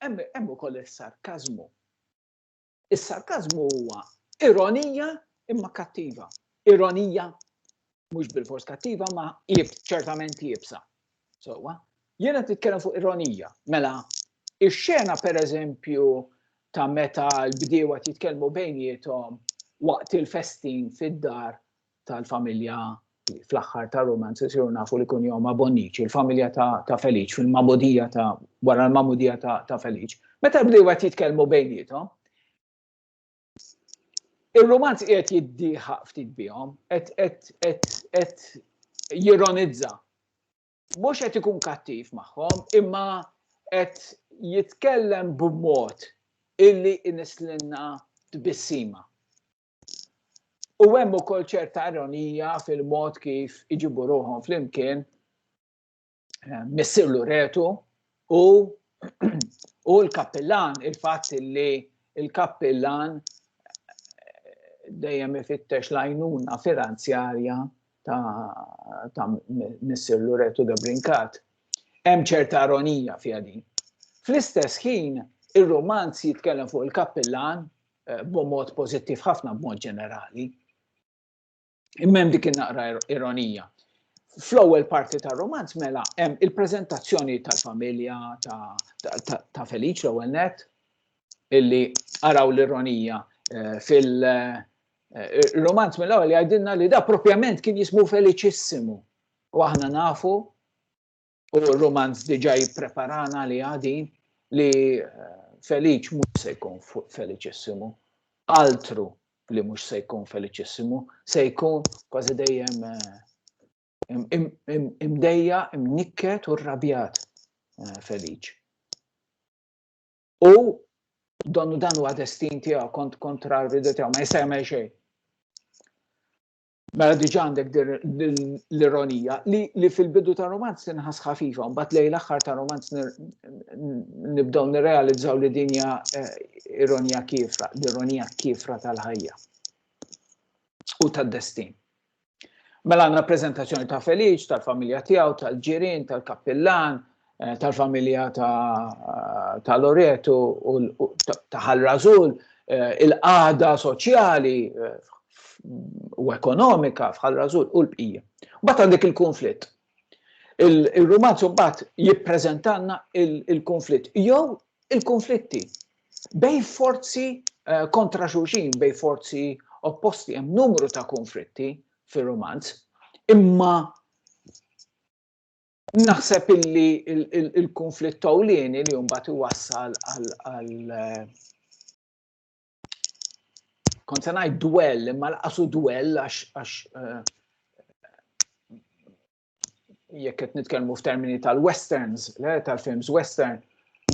hemm ukoll is-sarkażmu. Is-sarkażmu huwa ironija imma kattiva. Ironija mhux bil-fors kattiva ma jib ċertament jibsa. Sowa, jiena titkellem fuq ironija. Mela, ix-xena pereżempju ta' meta l-bdiewa titkellmu bejnietom waqt il-festin fid-dar tal-familja fl-aħħar ta' romance isiru nafu li kun jom Bonnici, il-familja ta' Feliċ, fil-mamudija ta' wara l-mamudija ta' Feliċ. Meta bdew għat jitkellmu bejnietom, il-romanz qiegħed jiddiħa ftit bihom, qed jironizza. Mhux qed ikun kattiv magħhom, imma qed jitkellem b'mod illi inislinna tbissima. U hemm ukoll ċerta ironija fil-mod kif iġibu ruħhom flimkien eh, missirlu retu u u l-kappillan, il-fatt li il-kappillan eh, dejjem ifittex lajnuna finanzjarja ta', ta missirlu retu da brinkat. Hemm ċerta ironija fiha din. Fl-istess ħin, ir-romanz jitkellem fuq il-kappillan eh, b'mod pożittiv ħafna b'mod ġenerali. Imma hemm dik naqra ironija. Fl-ewwel parti tar-romanz mela hemm il-preżentazzjoni tal-familja ta' Feliċ l-ewwel net illi araw l-ironija eh, fil- eh, il-romanz mill-ewwel jgħidilna li da propjament kien jismu Feliċissimu. U aħna nafu u romanz diġa jippreparana li għadin li eh, feliċ mhux se jkun feliċissimu. Altru li mhux se jkun feliċissimu, se jkun kważi dejjem eh, imdejja, imnikket u rrabjat eh, feliċ. U donnu dan huwa destin tiegħu kont kontra l-ridu tiegħu ma jista' jagħmel xejn. Mela diġa għandek l-ironija li fil-bidu ta' romanz tinħas ħafifa, mbagħad lejn l-aħħar ta' romanz nibdew nirrealizzaw li dinja eh, ironija kifra, l-ironija kifra tal-ħajja u tad-destin. Mela għandna prezentazzjoni ta' Feliċ, tal-familja tiegħu, tal-ġirien, tal-kappillan, eh, tal-familja ta' Loreto u ta' Ħal Razul, eh, il-qada soċjali eh, u ekonomika f'Ħal Razul u l-bqija. Bat għandek il-konflitt. Il-romanz bat jippreżentanna il-konflitt, jew il-konflitti bej forzi kontra xuxin, bej forzi opposti, hemm numru ta' konflitti fir-romanz, imma Naħseb illi il-konflitt tawlieni li mbagħad iwassal għal eh, kont se ngħid dwell imma laqasu dwell għax eh, jekk qed nitkellmu f'termini tal-westerns, tal-films western,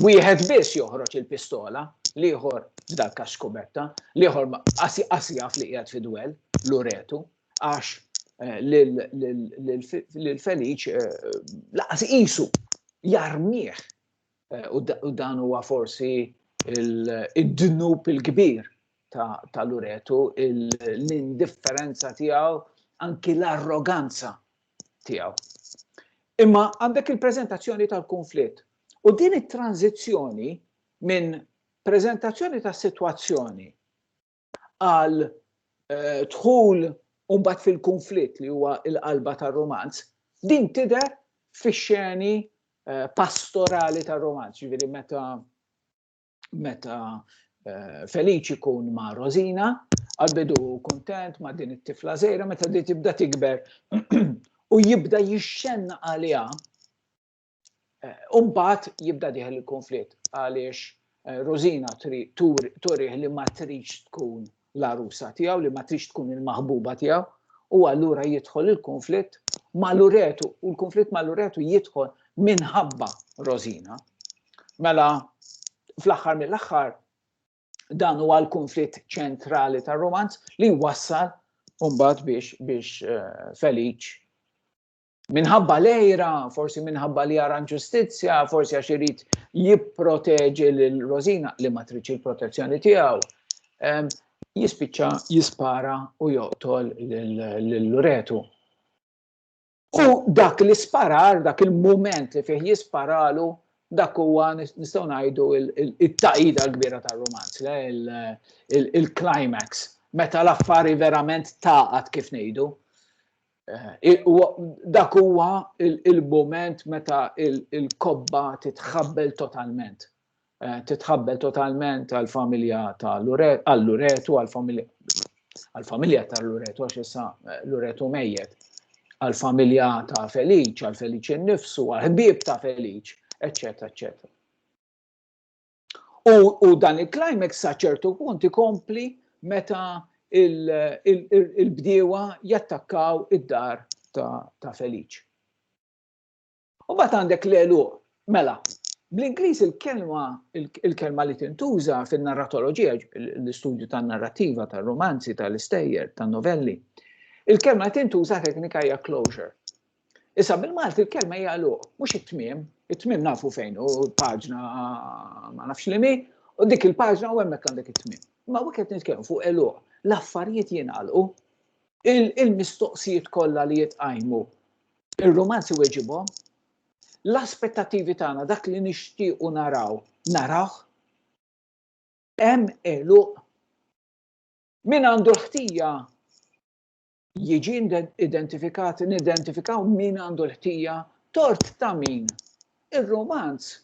wieħed biss joħroġ il-pistola, liħor f'dal kax kubetta, liħor qasjaf li qiegħed fi dwell, l-uretu, għax l-Feniċ laqas isu jarmieħ u dan huwa forsi id-dnub il-kbir tal-uretu l-indifferenza tiegħu anki l-arroganza tiegħu. Imma għandek il-prezentazzjoni tal-konflitt u din it-tranzizzjoni minn prezentazzjoni ta' situazzjoni għal eh, dħul umbat fil-konflitt li huwa il-qalba tar-romanz, din tidher fix-xeni eh, pastorali tar-romanz, ġifieri meta meta eh, Feliċi kun ma' Rosina, għalbidu kontent ma' din it-tifla zejra, meta di tibda tikber u jibda jixxenna għalija Umbat eh, jibda diħel il-konflitt għaliex eh, Rosina turih li ma trix tkun l-arusa tiegħu, li ma trix tkun il-maħbuba tiegħu, u allura jidħol il-konflitt ma' Luretu, u l-konflitt ma' Luretu jidħol minħabba Rosina. Mela, fl-axar mill-axar, dan huwa l-konflitt ċentrali tar romanz li wassal umbat biex biex eh, Feliċ minħabba lejra, forsi minħabba li għaran ġustizzja, forsi għax irid jipproteġi lil Rosina li ma tridx il-protezzjoni tiegħu. Jispiċċa jispara u joqtol l-luretu. U dak li sparar, dak il-moment li fih jisparalu, dak huwa nistgħu ngħidu it-taqida l-kbira tar-romanz, il-climax, meta l-affari verament taqat kif ngħidu. Dak huwa il-mument meta il-kobba titħabbel totalment. Titħabbel totalment għall-familja ta' Luretu, għall-familja ta' Luretu, għax issa Luretu mejjet, għall-familja ta' Feliċ, għall-Feliċ innifsu, għall-ħbieb ta' Feliċ, eccetera, eccetera. U dan il-climax sa ċertu punt ikompli meta il-bdiewa jattakkaw id-dar ta' Feliċ. U bat għandek l-elu, mela, bl-Ingliż il-kelma il-kelma li tintuża fin-narratoloġija, l-istudju tan-narrattiva, tar-romanzi, tal-istejjer, tan-novelli, il-kelma li tintuża teknika hija closure. Issa bil-Malti l-kelma hija luq, mhux it-tmiem, it-tmiem nafu fejn u paġna ma nafx li mi, u dik il-paġna u hemmhekk għandek it-tmiem. Ma wieħed nitkellmu fuq eluq, l-affarijiet jingħalqu, il-mistoqsijiet kollha li jitqajmu, ir-romanzi weġibhom, l-aspettativi tagħna dak li nixtiequ naraw, naraw, hemm eluq min għandu l-ħtija jiġi identifikat, nidentifikaw min għandu l-ħtija, tort ta' min. Ir-romanz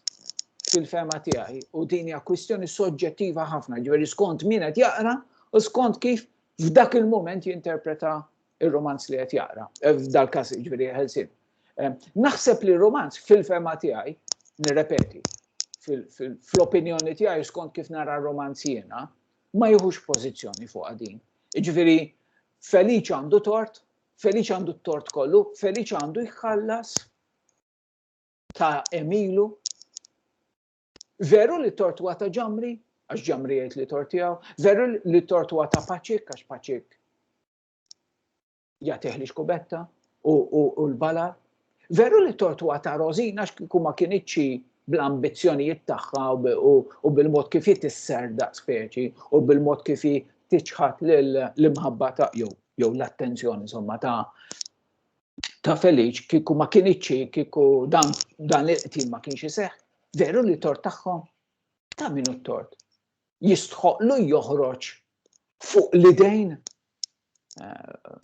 fil-fema tiegħi u din hija kwistjoni soġġettiva ħafna, ġifieri skont min qed jaqra u skont kif f'dak il-moment jinterpreta ir-romanz li qed jaqra, eh, f'dal każ ġifieri ħelsin. Eh, naħseb li romanz fil-fema tiegħi, nirrepeti, fl-opinjoni tiegħi skont kif nara romanz jiena, ma jieħux pożizzjoni fuqha din. Jiġifieri Feliċ għandu tort, Feliċ għandu t-tort kollu, Feliċ għandu jħallas ta' Emilu. Veru li tort huwa ta' ġamri, għax ġamri jgħid li tort tiegħu, veru li tort huwa ta' Paċik, għax Paċik jagħtih li xkubetta u l-bala. Veru li tortwa ta' Rosina x'kieku ma kienitxi bl-ambizzjonijiet tagħha u bil-mod kif jitisser daqs speċi u bil-mod kif tiċħat l-imħabba ta' jew jew l-attenzjoni insomma ta' ta' Feliċ kieku ma kienitxi kieku dan dan il-qtil ma kienx iseħħ. Veru li tort tagħhom ta' minu t-tort. Jistħoqlu joħroġ fuq l-idejn eh,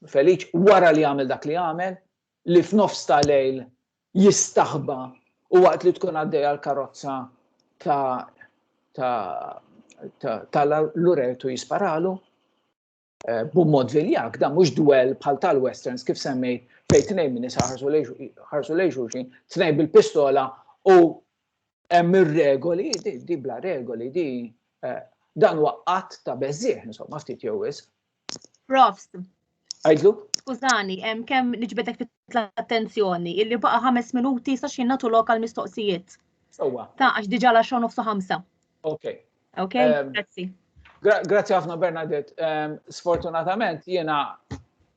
feliċ wara li għamel dak li għamel li f'nofs ta' lejl jistaħba u waqt li tkun għaddej għal karozza ta' ta' ta' l-uretu jisparalu eh, b'mod viljak, da mhux dwell bħal tal-westerns kif semmejt fejn tnejn minn ħarsu lejxuxin, tnejn bil-pistola u Hemm ir-regoli, di bla regoli, di eh, dan huwa qatt ta' beżieħ, insomma, ftit jew wis. Profs. Għajdlu? Skużani, hemm kemm niġbedek l-attenzjoni, illi baqa' ħames minuti sa xi nagħtu lokal mistoqsijiet. Sewwa. Ta' għax diġà la xogħol nofsu ħamsa. Ok. Ok, ehm, grazzi. Grazzi ħafna Bernadette. Ehm, sfortunatament jiena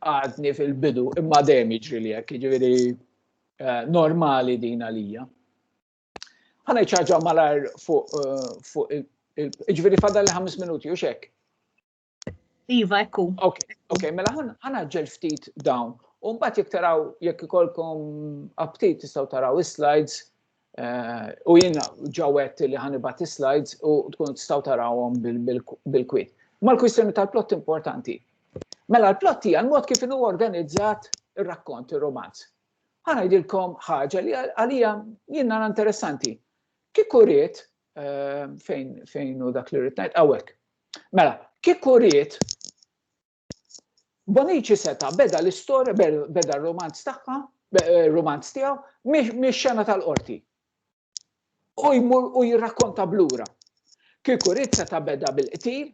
għadni fil-bidu imma dejjem jiġri li hekk, jiġifieri eh, normali din għalija. Għana ċaġa malar fuq eh, il-ġviri fadal li 5 minuti u xek. Iva, ekku. Ok, ok, mela ħana ġel ftit dawn. Umbat jek taraw, jek ikolkom aptit tistaw taraw is-slides Eh, u jien ġawet li ħanibat slides u tkun tistaw tarawhom bil-kwit. Ma l-kwistjoni tal-plott importanti. Mela l-plott hija l-mod kif inhu organizzat ir-rakkont, ir-romanz. Ħana jdilkom ħaġa li għalija jien nara interessanti. Kieku riet eh, fejn fejn u dak li rrid ngħid hawnhekk. Mela, kieku riet Bonici seta' beda l-istorja, beda r-romanz tagħha, eh, romanz tiegħu, mix-xena tal-qorti. U jmur u jirrakkonta blura. Kieku rrid seta' beda bil-qtil,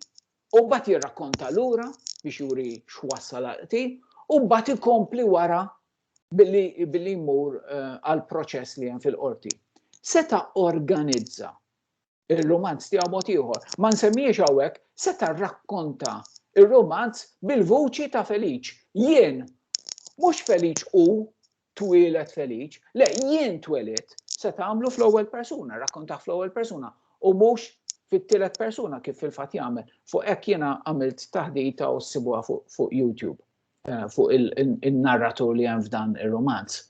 u mbagħad jirrakkonta lura biex juri x'wassal għal-qtil, u mbagħad ikompli wara billi jmur eh, għal-proċess li hemm fil-qorti. Seta' organizza ir-rumanz tiegħu mod ieħor. Ma nsemmiex hawnhekk seta' rrakkonta ir-rumanz bil-vuċi ta' Feliċ. Jien, mhux Feliċ u twielet Feliċ, le jien tweliet se tagħmlu fl-ewwel persuna, rakkontaħ fl-ewwel persuna u mhux fit-tielet persuna kif fil-fatt jagħmel. Fuq hekk jiena għamilt taħdita u ssibuha fuq YouTube eh, fuq il-narratur li hemm f'dan ir-romanz.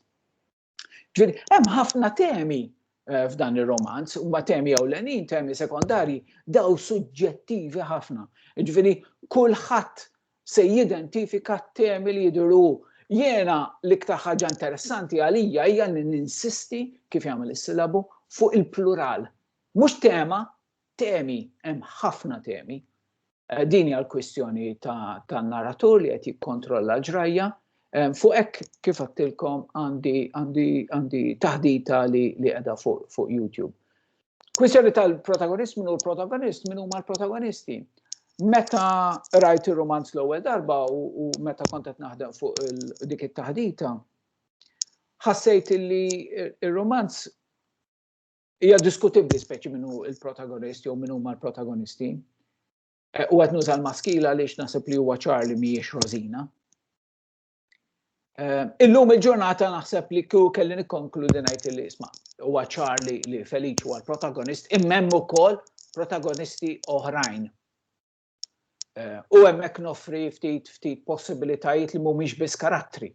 Ġifieri hemm ħafna temi eh, f'dan ir-romanz, huma temi ewlenin, temi sekondarji, daw suġġettivi ħafna. Ġifieri kulħadd se jidentifika t-temi li jidhru Jena l-iktar ħaġa interessanti għalija hija li ninsisti kif jagħmel is-silabu fuq il-plural. Mhux tema, Temi, hemm ħafna temi. Din hija l-kwistjoni tan-naratur li qed jikkontrolla l-ġrajja. Fuq hekk kif għattilkom għandi taħdita li qiegħda fuq YouTube. Kwistjoni tal-protagonist minn hu l-protagonist, minn huma l-protagonisti. Meta rajt ir-rumanz l-ewwel darba u meta kont qed naħdem fuq dik it-taħdita, ħassejt li r-rumanz Hija diskutibbli speċi min hu l-protagonist jew min huma l-protagonisti. Eh, u qed nuża l-maskila għaliex naħseb li huwa ċar li mhijiex Rosina. Eh, illum il-ġurnata naħseb li kju kelli nikkonkludi ngħid li isma' huwa ċar li, li Feliċ huwa l-protagonist, immemm ukoll protagonisti oħrajn. Eh, u hemmhekk noffri ftit ftit possibilitajiet li mhumiex biss karattri.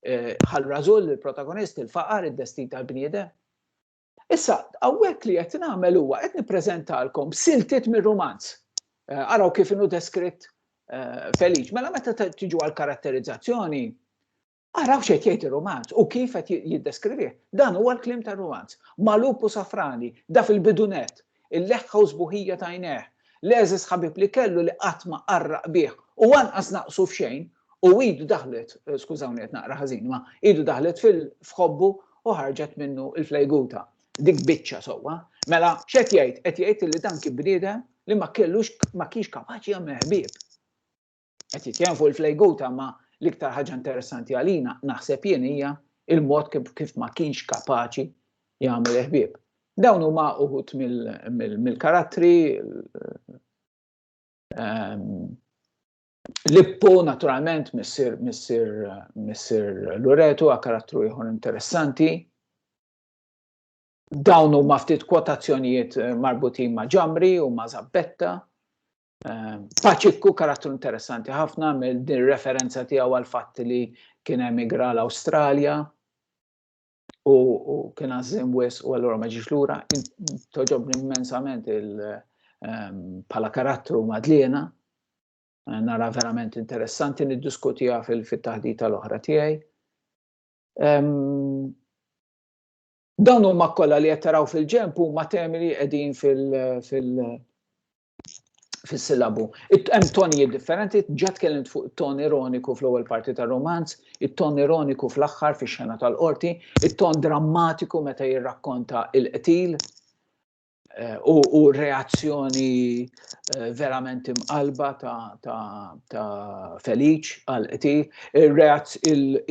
eh, bħal rażul il-protagonist, il-faqar, id-destin tal-bniedem. Issa, għawek li qed nagħmel huwa qed nippreżentalkom siltiet mir-rumanz. Eh, araw kif inhu deskritt eh, Feliċ. Mela meta tiġu għal karatterizzazzjoni, araw xejn jgħid ir-rumanz u kif qed jiddeskrivih. Dan huwa l-klim tar-rumanz. Malup u safrani, da fil-bidunet, Il-leħħa u s-sbuħija ta' għajnejh, l-għeżież ħabib li kellu li qatt ma qarraq bih u lanqas naqsu f'xejn, u idu daħlet, skużawni qed naqra ħażin, imma idu daħlet fil, f'ħobbu u ħarġet minnu l-flejguta. Dik biċċa sewwa. Mela, x'qed jgħid? Qed jgħid li dan kien bniedem li ma kellux, ma kienx kapaċi jagħmel ħbieb. qed jitkellem fuq il-flejguta ma l-iktar ħaġa interessanti għalina naħseb jien hija il-mod kif ma kienx kapaċi jagħmel ħbieb. Dawn huma uħut mill-karattri ehm, Lippo naturalment missir missir missir Loreto għa karattru ieħor interessanti. Dawn huma ftit kwotazzjonijiet eh, marbutin ma' ġamri u ma' zabbetta Paċikku karattru interessanti ħafna mill din referenza tiegħu għal fatt li kien emigra l-Awstralja u kien għażim wis u allura ma ġiex lura, toġobni immensament il-pala ehm, karattru madliena, nara verament interessanti niddiskutija fil-taħdita l-oħra tiegħi. Ehm, dawn huma kollha li qed taraw fil-ġemp huma temi li qegħdin fil- fis-silabu. Hemm tonijiet differenti, ġa tkellimt fuq it-ton ironiku fl-ewwel parti tar-romanz, it-ton ironiku fl-aħħar fix-xena tal-qorti, it-ton drammatiku meta jirrakkonta il-qtil eh, u reazzjoni eh, verament imqalba ta' Feliċ għal-qtil,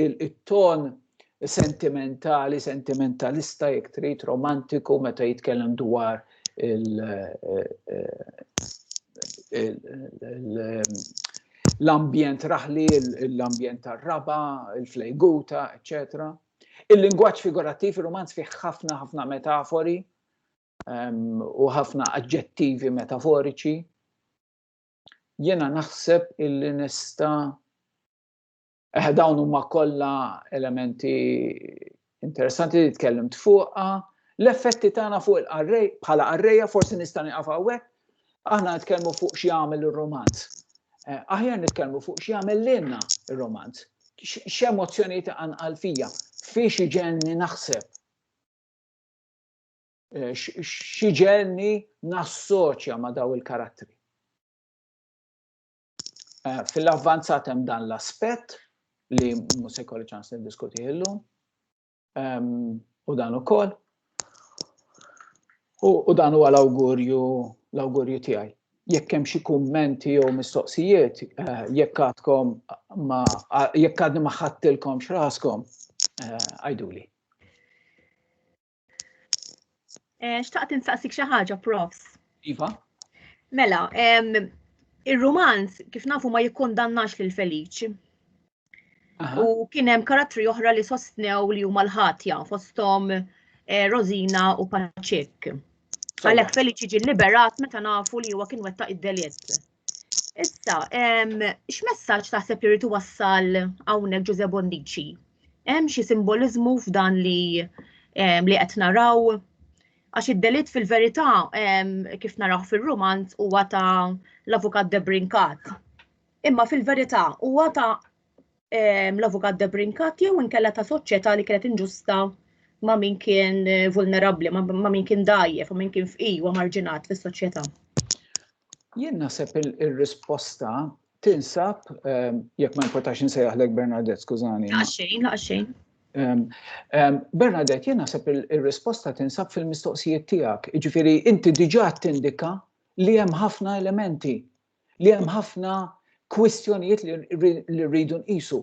il-ton sentimentali, sentimentalista jekk trid romantiku meta jitkellem dwar l-ambjent raħli, l-ambjent tar-raba, il-flejguta, etc. Il-lingwaġġ figurattiv, il-romanz fih ħafna ħafna metafori ehm, u ħafna aġġettivi metaforiċi. Jena naħseb illi nista' Eh, dawn huma kollha elementi interessanti li tkellimt fuqha. L-effetti tagħna fuq il-qarrej bħala qarrejja forsi nista' nieqaf hawnhekk. Aħna nitkellmu fuq xi jagħmel ir-romanz. Eh, aħjar nitkellmu fuq xi jagħmel lilna ir-romanz. X'emozzjonijiet għanqal fija, fiex iġenni naħseb. Eh, xi ġenni nassoċja ma' daw il-karattri. Eh, fil-avvanzat hemm dan l-aspett li mhux se jkolli ċans niddiskuti illum. Ehm, u dan ukoll. U dan huwa l-awgurju l-awgurju tiegħi. Jekk hemm xi kummenti jew mistoqsijiet, eh, jekk għadkom ma jekk għadni ma ħadtilkom x'raskom, eh, għajduli. Eh, xtaqt insaqsik xi ħaġa, profs. Iva. Mela, ir-rumanz kif nafu ma jikkondannax lil Feliċ. U kien hemm karattri oħra li sostnew li huma l-ħatja fosthom eh, Rosina u Paċek. Għalhekk Feliċi ġie liberat meta nafu li huwa kien wettaq id-delitt. Issa, x'messaġġ taħseb li rritu wassal hawnhekk Ġuże Bondici? Hemm xi simboliżmu f'dan li li qed naraw? Għax id-delitt fil-verità kif naraw fir-romanz huwa ta' l-avukat Debrinkat. Imma fil-verità huwa ta' ehm, l-avukat De Brinkat jew inkella ta' soċjetà li kienet inġusta ma' min kien eh, vulnerabbli, ma' min kien dajjef, ma' min kien fqir u marġinat fis-soċjetà. Jien naħseb il-risposta tinsab, ehm, jekk ma importax insejjaħlek Bernadette, skużani. Għaxxejn, għaxxejn. Ehm, ehm, Bernadette, jien naħseb il-risposta tinsab fil-mistoqsijiet tiegħek. Jiġifieri inti diġà tindika li hemm ħafna elementi li hemm ħafna kwistjonijiet li rridu nqisu.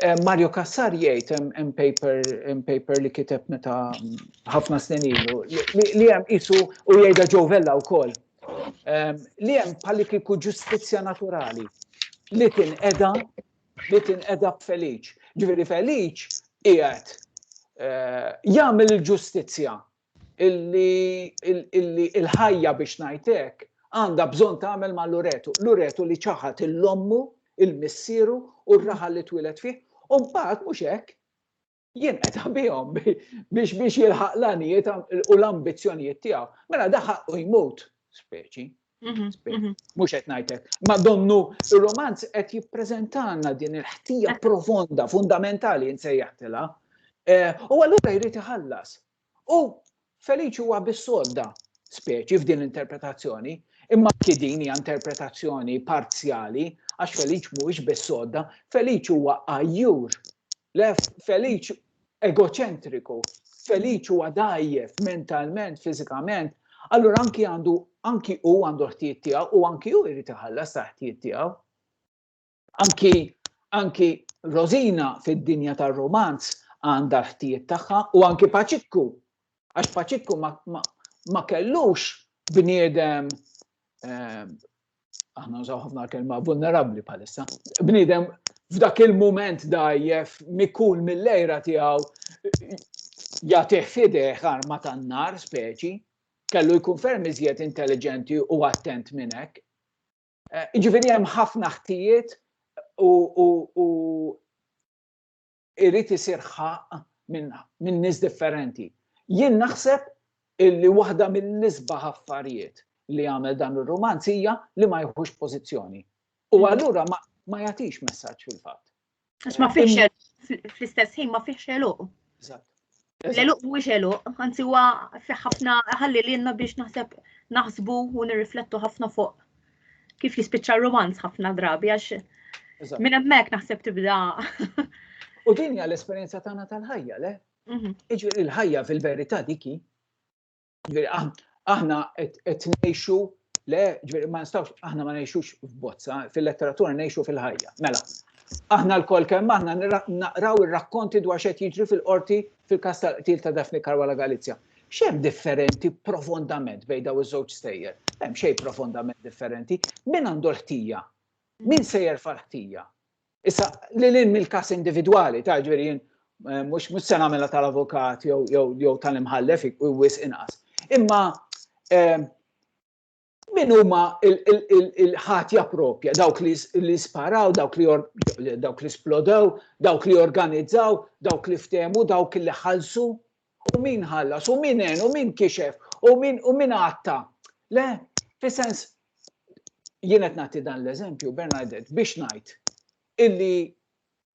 Eh, Mario Cassar jgħid hemm paper hemm paper li kiteb meta ħafna snin ilu li hemm qisu u jgħidha Joe Vella wkoll. Eh, li hemm bħalli kieku ġustizzja naturali li tinqeda li tinqeda b'Feliċ. Ġifieri Feliċ qiegħed eh, jagħmel il-ġustizzja illi l-ħajja biex ngħid hekk għandha bżonn tagħmel ma' Luretu. Luretu li ċaħad 'l ommu, 'l missieru u r-raħal li twieled fih u mbagħad mhux hekk, jinqeta' bihom biex biex jilħaq l-għanijiet u l-ambizzjonijiet tiegħu. Mela da ħaqqu jmut, speċi. Mhux qed ngħid hekk. Ma donnu ir-romanz qed jippreżentalna din il-ħtija profonda, fundamentali nsejjaħtilha. Eh, u allura jrid iħallas, U Feliċi huwa bis-sodda speċi f'din l-interpretazzjoni, imma anki din hija interpretazzjoni parzjali għax Feliċ mhuwiex bis-sodda, Feliċ huwa għajjur, lef Feliċ egoċentriku, Feliċ huwa dgħajjef mentalment, fiżikament, allura anki għandu anki hu għandu ħtijiet tiegħu u anki hu jrid iħallas ta' ħtijiet tiegħu. Anki, anki Rosina fid-dinja tar-rumanz għandha l-ħtijiet tagħha u anki Paċikku, għax Paċikku ma, ma, ma kellux bniedem ehm, aħna nżaw ħafna kelma vulnerabbli bħalissa. Bniedem f'dak il-moment dajjef mikun mill-lejra tiegħu jagħtih fideh arma tan-nar speċi, kellu jkun ferm iżjed intelligenti u attent minn hekk. Jiġifieri hemm ħafna ħtijiet u irid isir ħaqq minn nies differenti. Jien naħseb li waħda mill-isbaħ affarijiet li għamel dan ir-rumanz hija li ma jieħux pożizzjoni. U allura ma jagħtix messaġġ fil-fatt. Għax ma fiex fl-istess ħin ma fiex eluq. L-eluq mhuwiex eluq, anzi huwa fi ħafna ħalli lilna biex naħseb naħsbu u nirriflettu ħafna fuq kif jispiċċa romanz ħafna drabi għax minn hemmhekk naħseb tibda. U din hija l-esperjenza tagħna tal-ħajja, le? Mhm. Iġri l-ħajja fil-verità diki Ġifieri aħna qed ngħixu le, ġifieri ma nistgħux aħna ma ngħixux f'bozza, fil-letteratura ngħixu fil-ħajja. Mela, aħna l-kol kemm aħna naqraw ir-rakkonti dwar xed jiġri fil-qorti fil-kas tal-qtil ta' Daphne Karwala Galizja. Xem differenti profondament bejn daw iż-żewġ stejjer? Hemm xejn profondament differenti. Min għandu l-ħtija? Min sejjer fal-ħtija? Issa, li l-in mill-kas individwali, ta' ġveri jien eh, mux mux se namela tal-avukat jew tal-imħallef u wis inqas. Imma eh, min huma il-ħatja propja, dawk li sparaw, dawk li dawk li splodew, dawk li organizzaw, dawk li ftemu, dawk li ħalsu, U min ħallas, u min għen, u min kixef, u min, u min għatta. Le, fi sens, jienet nati dan l-eżempju, Bernadette, biex najt, illi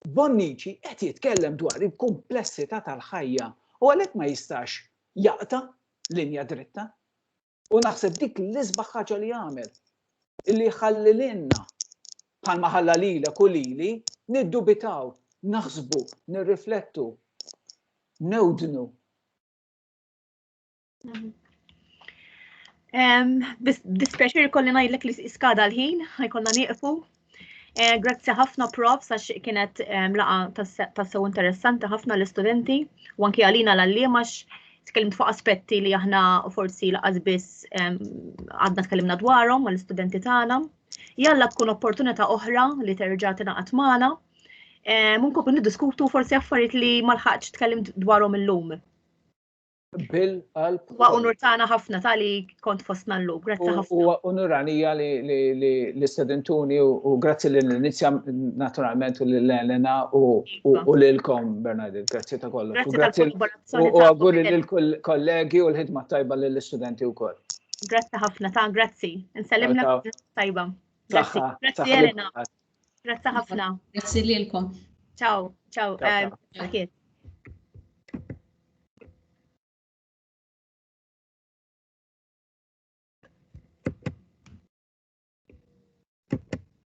Bonnici qed jitkellem dwar il-komplessità tal-ħajja u għalhekk ma jistax jaqta linja dritta. U naħseb dik l-isbaħ ħaġa li għamel. Illi ħalli l-inna, bħal maħalla lila kulili, niddubitaw, naħsbu, nirriflettu, newdnu. Mhm. Dispjaċir kolli ngħidlek li skada l-ħin, ħajkonna nieqfu, Eh, grazzi ħafna prof sax kienet ehm, laqa tassew interessanti ħafna l-istudenti u anki għalina l-għallima tkellimt fuq aspetti li aħna forsi laqas biss ehm, għadna tkellimna dwarhom mal istudenti tagħna. Jalla tkun opportunità oħra li terġa' tingħaqad magħna. Ehm, Munkun niddiskutu forsi affarijiet li ma lħaqx tkellimt dwarhom illum. Bil-qalb. Wa unur tagħna ħafna tali kont fostna llum, grazzi ħafna. Huwa unuranija li sedentuni u grazzi li l-inizja naturalment u lil Elena u lilkom Bernadette, grazzi ta' kollox. U grazzi u auguri lil kollegi u l-ħidma tajba lill istudenti wkoll. Grazzi ħafna ta' grazzi. Nsellimna tajba. Grazzi Elena. Grazzi ħafna. Grazzi lilkom. Ciao, ciao. Eh,